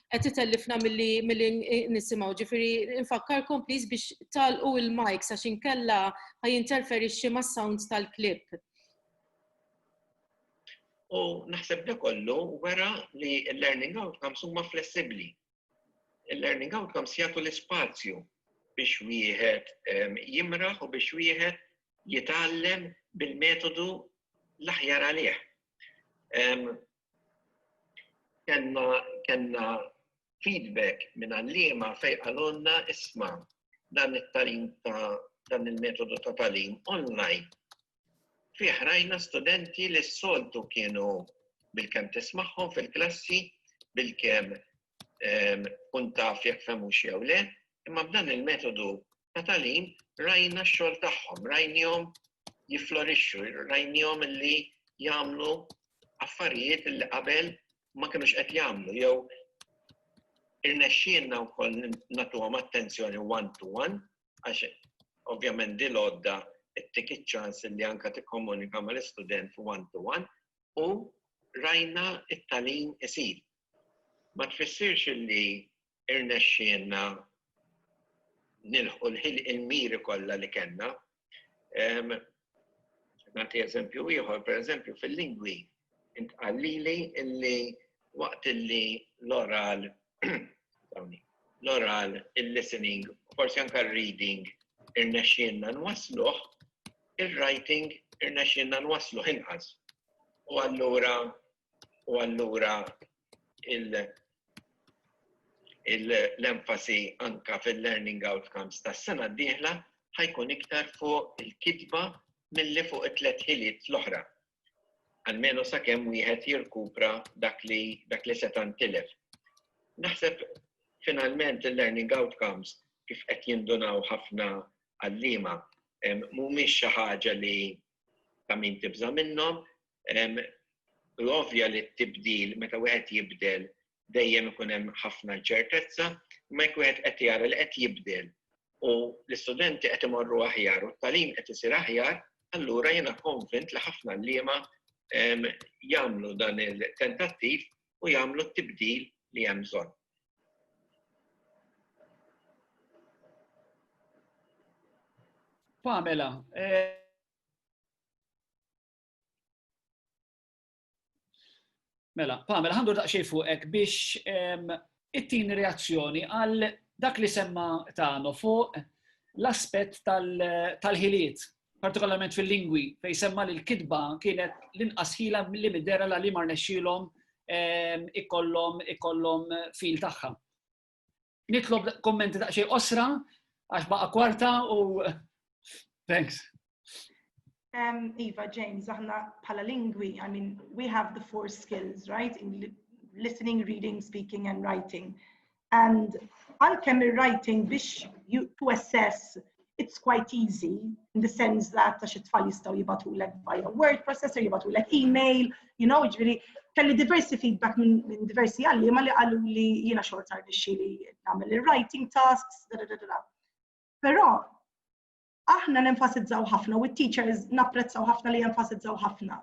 qed itellifna milli milli nisimgħu. Ġifieri infakkarkom please biex talqu il-mic sa xinkella ħajinterferixxi mas-sounds tal-klip. U naħseb da kollu wara li l-learning outcomes huma flessibbli. Il-learning outcomes jagħtu l-ispazju biex wieħed ehm, jimraħ u biex wieħed jitgħallem bil-metodu l-aħjar għalih. Ehm, Kenna kenna feedback minn għalliema fejn qalulna isma' dan it-talim ta' dan il-metodu ta' talim online fih rajna studenti li s-soltu kienu bilkemm tismagħhom fil-klassi, bilkemm tkun taf jekk fehmux jew le, imma b'dan il-metodu ta' tagħlim rajna x-xogħol tagħhom, rajnihom jifflorixxu, rajnihom li jagħmlu affarijiet li qabel ma kienux qed jagħmlu jew irnexxielna wkoll nagħtuhom attenzjoni one to one għax ovvjament di lodda tik iċ-ċans li anka tikkomunika mal-istudent one to one u rajna it-talim isir. Ma tfissirx li irnexxielna nilħqu l-miri kollha li kellna. Nagħti eżempju ieħor, pereżempju fil-lingwi, intqallili illi waqt illi l-oral l-oral, il-listening, forsi anka reading irnexxielna nwasluh, il-writing irnexxielna nwasluh inqas. U allura u allura l-enfasi anka fil-learning outcomes tas-sena d-dieħla ħajkun iktar fuq il-kitba milli fuq it-tliet ħiliet l-oħra. Almenu sakemm wieħed jirkupra dak li dak li seta' ntilef. Naħseb finalment il-learning outcomes kif qed jindunaw ħafna għallima mhumiex xi ħaġa li ta' min tibża' minnhom, L-ovvja li t-tibdil meta wieħed jibdel dejjem ikun hemm ħafna inċertezza, imma jekk wieħed qed jara li qed jibdel u l-istudenti qed imorru aħjar u t-tagħlim qed isir aħjar, allura jiena konvint li ħafna liema jagħmlu dan il-tentattiv u jagħmlu t-tibdil li hemm bżonn. Pamela, eh, Mela, Pamela, ħandur daqxej fuqek biex it-tin reazzjoni għal dak li semma tagħna fuq l-aspett tal-ħiliet, partikolarment fil-lingwi, fej semma li l-kitba kienet l-inqas ħila li middera la li mar nexxilhom ikollhom ikollhom fil tagħha. Nitlob kommenti ta' xej osra, għax baqa kwarta u thanks. Um, Eva, James, aħna pala lingwi, I mean, we have the four skills, right? In listening, reading, speaking and writing. And għalkemm ir-writing biex to assess it's quite easy in the sense that ta' xi tfal jistgħu jibatulek via word processor, jibatulek email, you know, ġifieri kelli diversi feedback minn min diversi għalliema li qalu li jiena xorta rnexxi li nagħmel il-writing tasks, da da da Però aħna nenfasizzaw ħafna u t-teachers napprezzaw ħafna li jenfasizzaw ħafna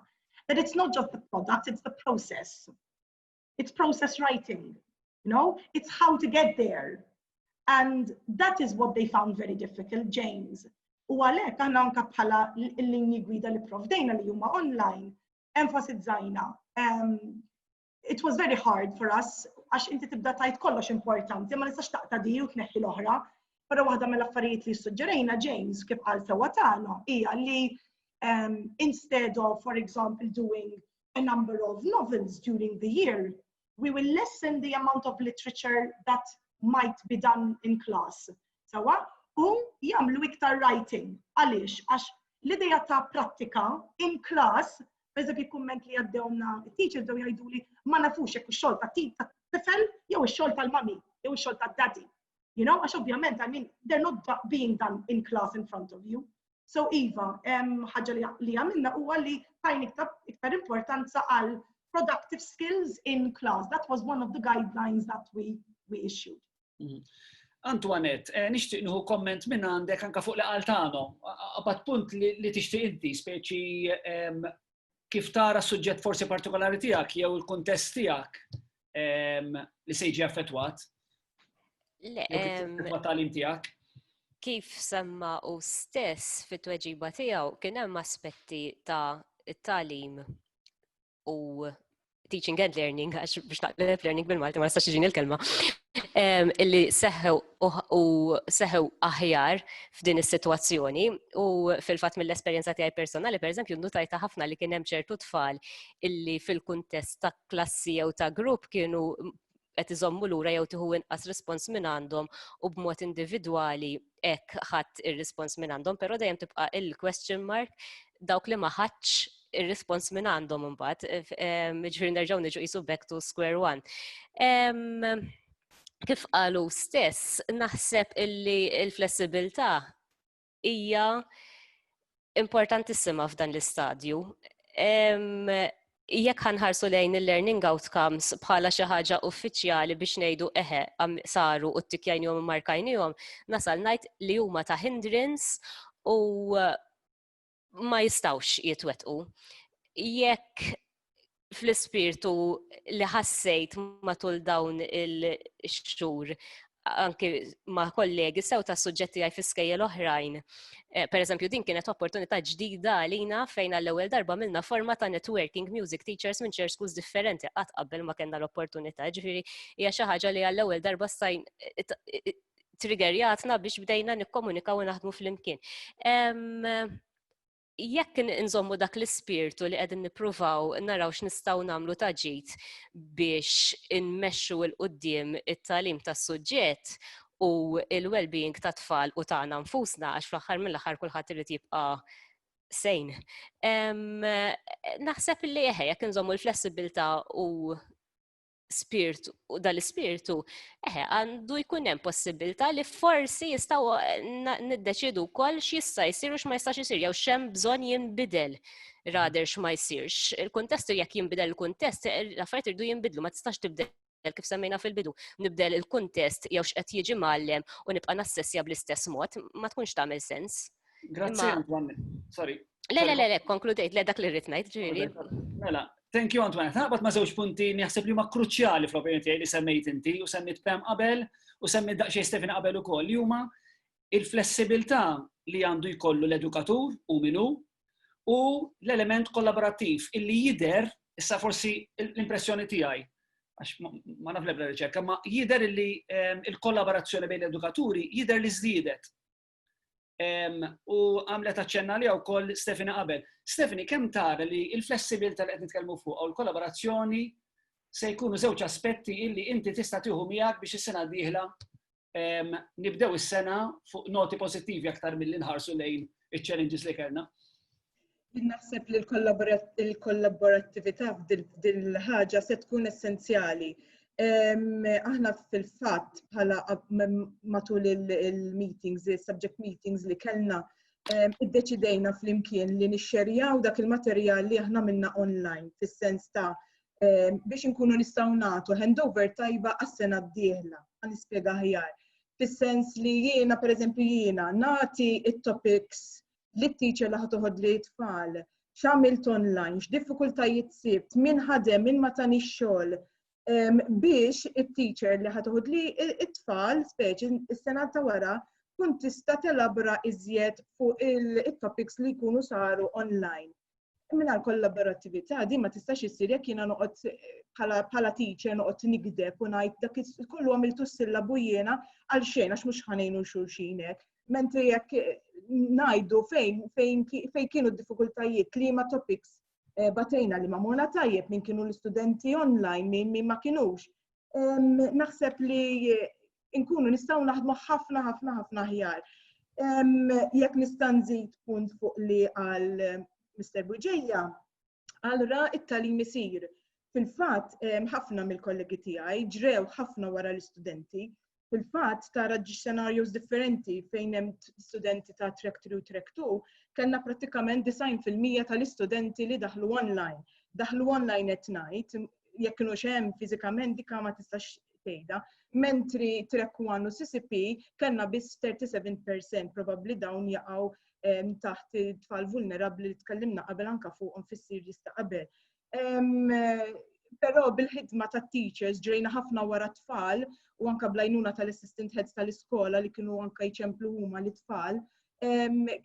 that it's not just the product, it's the process. It's process writing. You know, it's how to get there. And that is what they found very difficult, James. U għalhekk aħna anke bħala l-linji gwida li provdejna li huma online, enfasizzajna. Um, it was very hard for us għax inti tibda tajt kollox importanti, ma nistax taqta di u tneħħi l-oħra. Però waħda mill-affarijiet li suġġerejna James kif qal sewwa tagħna hija li um, instead of, for example, doing a number of novels during the year, we will lessen the amount of literature that might be done in class. Sawa? U jamlu iktar writing. Għaliex? Għax l-ideja ta' prattika in class, eżebi kumment li għaddewna teacher dew jgħidu li ma nafux jekk xol ta' ta' tifel jew xol tal-mami jew xol ta' daddy. You know, għax ovvjament, I mean, they're not being done in class in front of you. So iva, ħaġa li għamilna huwa li tajn iktar importanza għal productive skills in class. That was one of the guidelines that we, we issued. Mm. Antoinette, eh, nixtieq nħu komment minn għandek anka fuq li qaltano, għabat punt li tixtieq inti, speċi kif tara s-suġġett forsi partikolari tiegħek jew il-kuntest tiegħek ehm, li se jiġi affettwat? Le, ehm, tagħlim tiegħek? Kif semma u stess fit-tweġiba tiegħu kien hemm aspetti ta' it-talim u teaching and learning, għax biex naqleb learning bil-Malti ma nistax iġini l-kelma, illi seħew u seħew aħjar f'din is-sitwazzjoni u fil-fatt mill-esperjenza tiegħi personali, pereżempju, nutajta ħafna li kien hemm ċertu tfal illi fil-kuntest ta' klassi jew ta' grupp kienu qed iżommu lura jew tieħu inqas rispons minn għandhom u b'mod individwali hekk ħadd ir-rispons minn għandhom, però dejjem tibqa' il-question mark dawk li ma ħadx ir-rispons minn għandhom imbagħad, ġifieri nerġgħu niġu qisu back to square one. Kif qalu stess, naħseb illi l-flessibilità hija importantissima f'dan l-istadju. Jekk ħanħarsu lejn il-learning outcomes bħala xi ħaġa uffiċjali biex ngħidu eħe saru u t-tikjajnihom u markajnihom, nasal ngħid li huma ta' hindrance u ma jistawx jitwetqu. Jekk fl-ispirtu li ħassejt matul dawn il-xhur anki ma' kollegi sew ta' suġġetti għaj fiskejja l-oħrajn. Eh, per eżempju, din kienet opportunità ġdida għalina fejn għall-ewwel darba milna forma ta' networking music teachers minn ċer schools differenti qatt qabel ma kellna l-opportunità, ġifieri hija xi ħaġa li għall-ewwel darba stajn triggerjatna biex bdejna nikkomunikaw u naħdmu fl-imkien. jekk nżommu dak l-ispirtu li qegħdin nippruvaw naraw x'nistgħu nagħmlu ta' ġid biex inmexxu il qudiem it-talim tas-suġġett u il-well-being ta' tfal u tagħna nfusna għax fl-aħħar mill-aħħar kulħadd irid jibqa' sejn. Naħseb li eħe jekk nżommu l-flessibilità u spirtu, dal-spirtu, eħe, għandu jkun hemm possibilità li forsi jistgħu eh, niddeċidu wkoll x'jista' jsir u x'ma jistax isir jew x'hemm bżonn jinbidel rader x'ma jsirx. Il-kuntestu jekk jinbidel il-kuntest, eh, l-affarijiet irdu jinbidlu ma tistax tibdel kif semmejna fil-bidu, nibdel il-kuntest jew x'qed jiġi mallem u nibqa' nassessja bl-istess mod, ma tkunx tagħmel sens. Grazzi, Antoine. Sorry. Le, le, le, le, konkludejt, le dak li rrit ngħid ġieli. Mela, thank you Antoine. Taqbad ma' żewġ punti naħseb li huma kruċjali fl-opinjoni tiegħi li semmejt inti u semmit Pem qabel u semmit daqsxejn Stefan qabel ukoll li huma il-flessibilità li għandu jkollu l-edukatur u minu u l-element kollaborattiv illi jider issa forsi l-impressjoni tiegħi għax ma naf lebda riċerka, ma jider illi ehm, il-kollaborazzjoni bejn l-edukaturi jider li żdiedet U għamlet aċċenna li wkoll Stefani qabel. Stefani, kemm tara li il-flessibilta li qed nitkellmu fuq u l-kollaborazzjoni se jkunu żewġ aspetti illi inti tista' tieħu miegħek biex is-sena dieħla nibdew is-sena fuq noti pożittivi aktar mill-li nħarsu lejn iċ-challenges li kellna. Naħseb li l-kollaborattività f'din il-ħaġa se tkun essenzjali. Aħna fil-fatt bħala matul il-meetings, il-subject meetings li kellna, iddeċidejna fl-imkien li nixxerjaw dak il-materjal li aħna minna online, fis-sens ta' biex inkunu nistgħu nagħtu handover tajba għas-sena d-dieħla, għal-ispjega ħjar. Fis-sens li jiena, per eżempju, jiena nagħti it-topics li t-teacher li ħatoħod li tfal, x'għamilt online, x'diffikultajiet sibt, min ħadem, min ma tani xogħol ehm, biex it-teacher li ħatoħod li it-tfal, speċi s-sena ta' wara, kun tista' telabra iżjed fuq il-topics li jkunu saru online. Mingħajr kollaborattività din ma tistax issir jekk jiena noqgħod bħala teacher noqgħod nikdeb u ngħid dak kollu għamiltu s-sillabu jiena għal xejn għax mhux ħanejnu xulxin hekk. Mentri jekk ngħidu fejn fejn fejn kienu d-diffikultajiet li ma topics eh, batejna li ma mona tajjeb minn kienu l-istudenti online minn ma kienux. Naħseb li inkunu nistgħu naħdmu ħafna ħafna ħafna aħjar. Jekk nista' nżid punt fuq li għal Mr. Buġeja, għal ra it-talim isir. Fil-fatt ħafna mill-kollegi tiegħi ġrew ħafna wara l-istudenti fil-fatt tara xenarjos differenti fejn hemm studenti ta' track 3 u track 2, kellna prattikament 90% tal-istudenti li daħlu online. Daħlu online qed ngħid, jekk kienu xem fizikament dikka ma tistax tgħidha. Mentri trek one u CCP kellna biss 37% probabbli dawn jaqgħu ehm, taħt tfal vulnerabbli li tkellimna qabel anka fuqhom fissir jista' qabel. Ehm, però bil-ħidma ta' teachers ġrejna ħafna wara tfal u anka blajnuna tal-assistant heads tal-iskola li kienu anka jċemplu huma l-tfal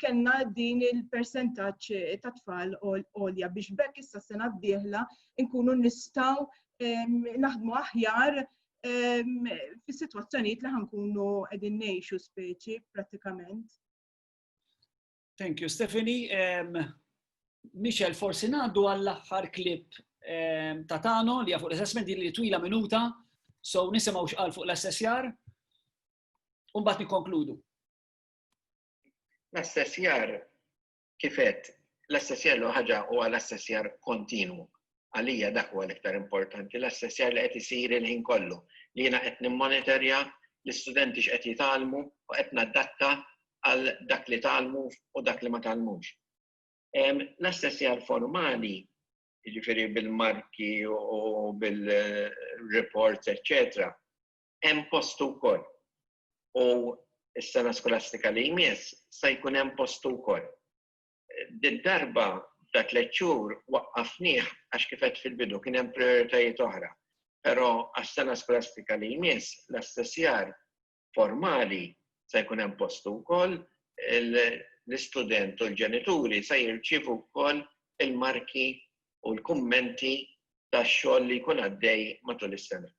kellna din il-persentaġġ ta' tfal għolja biex bekk issa sena d-dieħla nkunu nistgħu naħdmu aħjar fis-sitwazzjonijiet li ħankunu qegħdin ngħixu speċi prattikament. Thank you, Stephanie. Michel, forsi ngħaddu għall-aħħar klip ta' Tano li fuq l-assessment li twila minuta, so nisimgħu x'qal fuq l-assessjar, u mbagħad nikkonkludu. L-assessjar kifet l-assessjar l ħaġa huwa l-assessjar kontinwu. Għalija dak huwa l-iktar importanti, l-assessjar li qed isir il-ħin kollu, li jiena qed nimmonitorja l-istudenti x'qed jitgħallmu u qed nadatta għal dak li tgħallmu u dak li ma tgħallmux. L-assessjar formali, jiġifieri bil-marki u bil-reports, eċċetera, hemm postu wkoll. u s-sena skolastika li jmiss se jkun hemm postu wkoll. Did-darba ta' tliet xhur waqqafnieh għax kif għedt fil-bidu kien hemm prioritajiet oħra, però għas-sena skolastika li jmiss l-assessjar formali se jkun hemm postu wkoll, l-istudent u l-ġenituri se jirċievu wkoll il-marki u l-kummenti tax-xogħol li jkun għaddej matul is-sena.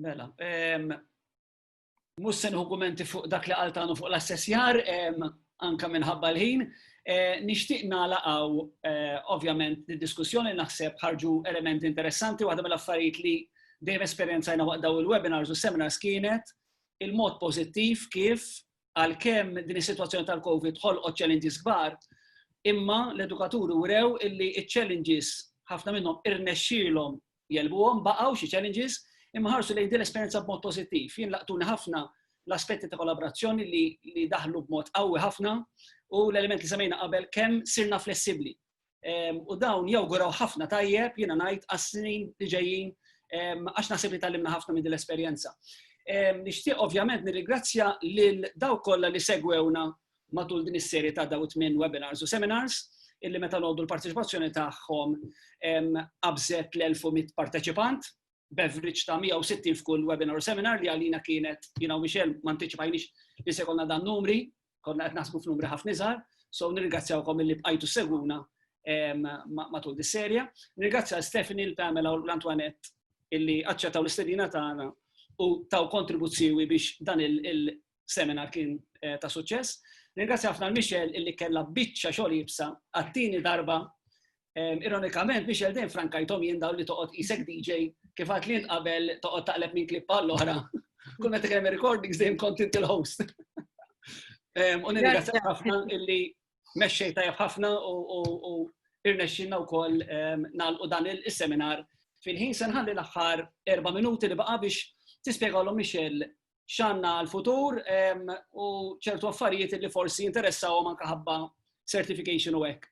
Mela, mhux se nħu fuq dak li qaltanu fuq l-assessjar, anka minħabba l-ħin, eh, nixtieq nalaqgħu eh, ovvjament id-diskussjoni naħseb ħarġu elementi interessanti waħda mill-affarijiet li dejjem esperjenzajna waqt daw il-webinars u seminars kienet il-mod pożittiv kif għalkemm din is-sitwazzjoni tal-COVID ħolqot challenges kbar, imma l-edukaturi wrew illi ċ-challenges ħafna minnhom irnexxielhom jelbuhom baqgħu xi challenges imma ħarsu lejn din l-esperjenza b'mod pożittiv. Jien laqtuni ħafna l-aspetti ta' kollaborazzjoni li, li daħlu b'mod qawwi ħafna u l-element li semmejna qabel kemm sirna flessibbli. u dawn jawguraw ħafna tajjeb jiena ngħid għas-snin li ġejjin għax naħseb li tallimna ħafna minn din l-esperjenza. Nixtieq ovvjament nirrigrazzja lil daw kollha li segwewna matul din is-serje ta' daw it-tmien webinars u seminars illi meta noddu l-parteċipazzjoni tagħhom qabżet l-1100 parteċipant beverage ta' 160 f'kull webinar u seminar li għalina kienet, jina u Michel, ma anticipajnix li se konna dan numri, konna qed naħsbu f'numri ħafna iżgħar, so nirringrazzjawkom li bqajtu seguna matul dis-serja. Nirringrazzja Stephanie, l-Pamela u l-Antoinette illi aċċettaw l-istedina tagħna u taw kontribuzzjoni biex dan il-seminar kien eh, ta' suċċess. Nirringrazzja ħafna l-Michel illi kellha biċċa xogħol jibsa għattini darba Ironikament, Michel dejjem frankajtom jien dawn li toqgħod isek DJ kif għad li qabel toqgħod taqleb minn klip għall oħra Kull meta kemm recordings dejjem kont inti l-host. U nirringrazzjak ħafna illi mexxej tajjeb ħafna u irnexxinna wkoll nagħlqu dan is-seminar fil-ħin se nħalli l-aħħar erba' minuti li baqa' biex tispjegalhom Michel x'għandna għall-futur u ċertu affarijiet li forsi jinteressawhom anke ħabba certification u hekk.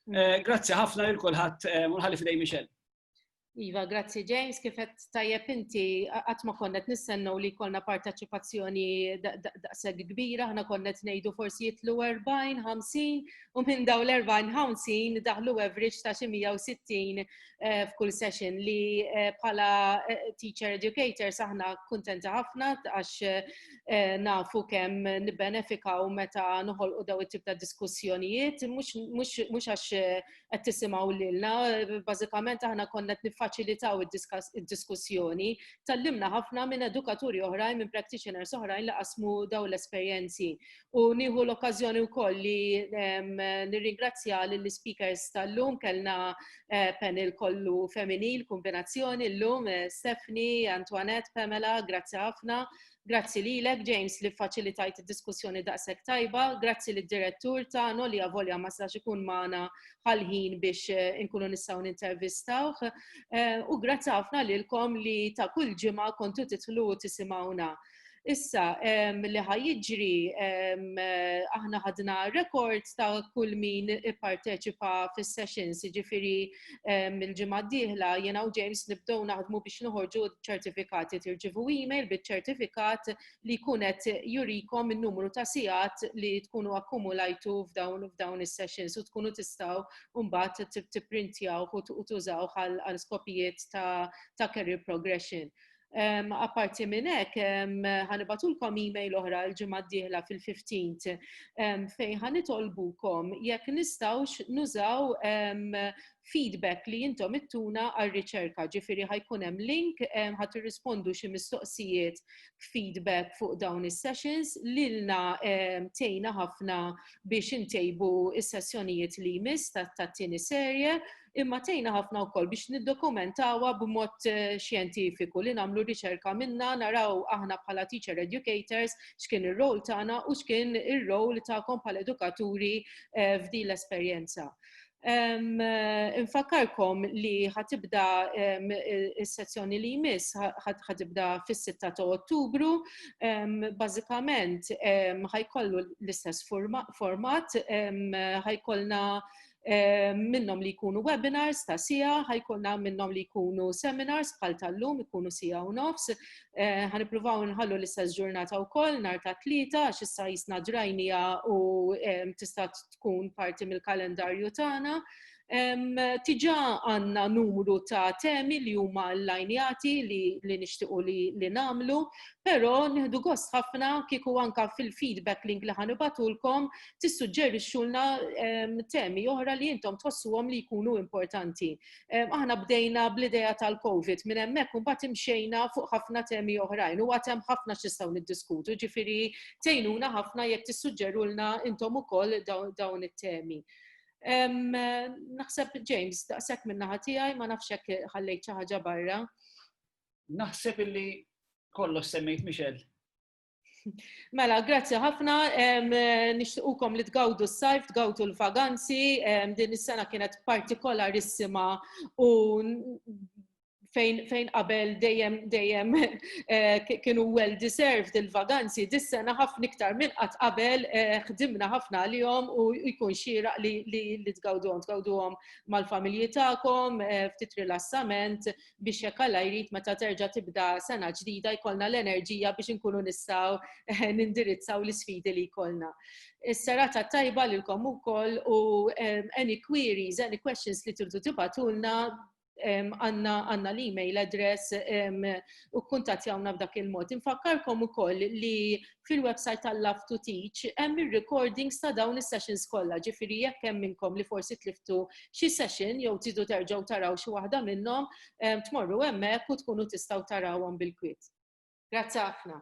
Mm. Grazzi ħafna lil kulħadd u nħalli fidej Michelle. Iva, grazzi James, kifet tajjeb inti għatma konnet nissennu li kolna parteċipazzjoni daqseg kbira, ħna konnet nejdu forsi jitlu 40, 50, u minn daw l-40, 50 daħlu average ta' 160 eh, f'kull session li eh, bħala eh, teacher educator saħna kuntenta ħafna għax nafu kemm nibbenefikaw meta noħolqu daw it-tip ta' diskussjonijiet mhux għax qed tisimgħu lilna, bażikament aħna konna qed niffaċilitaw id-diskussjoni, tallimna ħafna minn edukaturi oħrajn, minn practitioners oħrajn li qasmu daw l-esperjenzi. U nieħu l-okkażjoni wkoll li nirringrazzja lill-speakers tal-lum kellna eh, panel kollu femminil, kombinazzjoni llum eh, Stephanie, Antoinette, Pamela, grazzi ħafna. Grazzi lilek James li faċilitajt id-diskussjoni daqshekk tajba, grazzi lid direttur tagħna li avolja ma sax ikun magħna ħalħin biex eh, inkunu nistgħu nintervistawh. U grazzi ħafna lilkom li ta' kull ġimgħa kontu titlu tisimgħuna. Issa, li ħajġri, aħna ħadna rekord ta' kull min ipparteċipa fis-sessions, ġifiri mill-ġimgħa d-dieħla jiena u James nibdew naħdmu biex noħorġu ċertifikati tirċivu email biċ-ċertifikat li jkun qed jurikom in-numru ta' sigħat li tkunu akkumulajtu f'dawn f'dawn is-sessions u tkunu tistgħu mbagħad tipprintjaw u tużaw għal skopijiet ta' career progression. Apparti minn hekk, ħanibatulkom email oħra l-ġimgħa d-dieħla fil-15 fejn ħanitolbukom jekk nistgħux nużaw feedback li intom ittuna għar-riċerka, ġifieri ħajkun hemm link ħadd irrispondu xi mistoqsijiet feedback fuq dawn is-sessions lilna tgħinna ħafna biex intejbu s-sessjonijiet li jmiss tat-tieni serje imma tgħinna ħafna wkoll biex niddokumentawha b'mod eh, xjentifiku li nagħmlu riċerka minna naraw aħna bħala teacher educators x'kien ir-rol tagħna u x'kien ir-rol tagħkom bħala edukaturi eh, f'din l-esperjenza. Um, infakkarkom li ħatibda um, il-sezzjoni li jmiss ħatibda fis-6 ta' Ottubru. Um, Bażikament ħajkollu l-istess format, ħajkollna um, minnhom li jkunu webinars ta' sija, ħajkonna minnhom li jkunu seminars bħal tal-lum ikunu sija u nofs. Eh, ħanippruvaw nħallu l-istess ġurnata wkoll nhar ta' tlieta għax issa jisna drajnija u tista' tkun parti mill-kalendarju tagħna. Tiġa għanna numru ta' temi li huma l-lajnjati li, li nixtiqu li, li namlu, pero nħdu gost ħafna kiku anka fil-feedback link li ħanibatulkom tissuġġerixxulna ehm, temi oħra li intom tħossuhom li jkunu importanti. Ehm, aħna bdejna bl-idea tal-COVID minn hemmhekk u mbagħad imxejna fuq ħafna temi oħrajn u għad hemm ħafna x'istgħu niddiskutu, ġifieri tgħinuna ħafna jekk tissuġġerulna intom ukoll dawn it-temi. Ehm, naħseb James, daqshekk minn naħa tiegħi ma nafx hekk ħallejt xi ħaġa barra. Naħseb illi kollox semmejt Michel. Mela, grazzi ħafna, nixtiqukom li tgawdu s-sajf, tgawdu l-vaganzi, din is-sena kienet partikolarissima u fejn fejn qabel dejjem dejjem eh, kienu well deserved il-vaganzi, dis-sena ħafna iktar minn qatt qabel eh, ħdimna ħafna għalihom u jkun xieraq li li tgawduhom, tgawduhom mal-familji tagħkom, eh, ftit rilassament, biex jekk Alla jrid meta terġa' tibda sena ġdida jkollna l-enerġija biex inkunu nistgħu nindirizzaw l-isfidi li jkollna. Is-serata tajba lilkom ukoll u any queries, any questions li tridu tibatulna għanna l-email address u kuntatjawna b'dak il-mod. Infakkarkom ukoll li fil-website tal-Love to Teach hemm ir-recordings ta' dawn is-sessions kollha, ġifieri jekk hemm minnkom li forsi tliftu xi session jew tridu terġgħu taraw xi waħda minnhom, tmorru hemmhekk u tkunu tistgħu tarawhom bil-kwiet. Grazzi ħafna.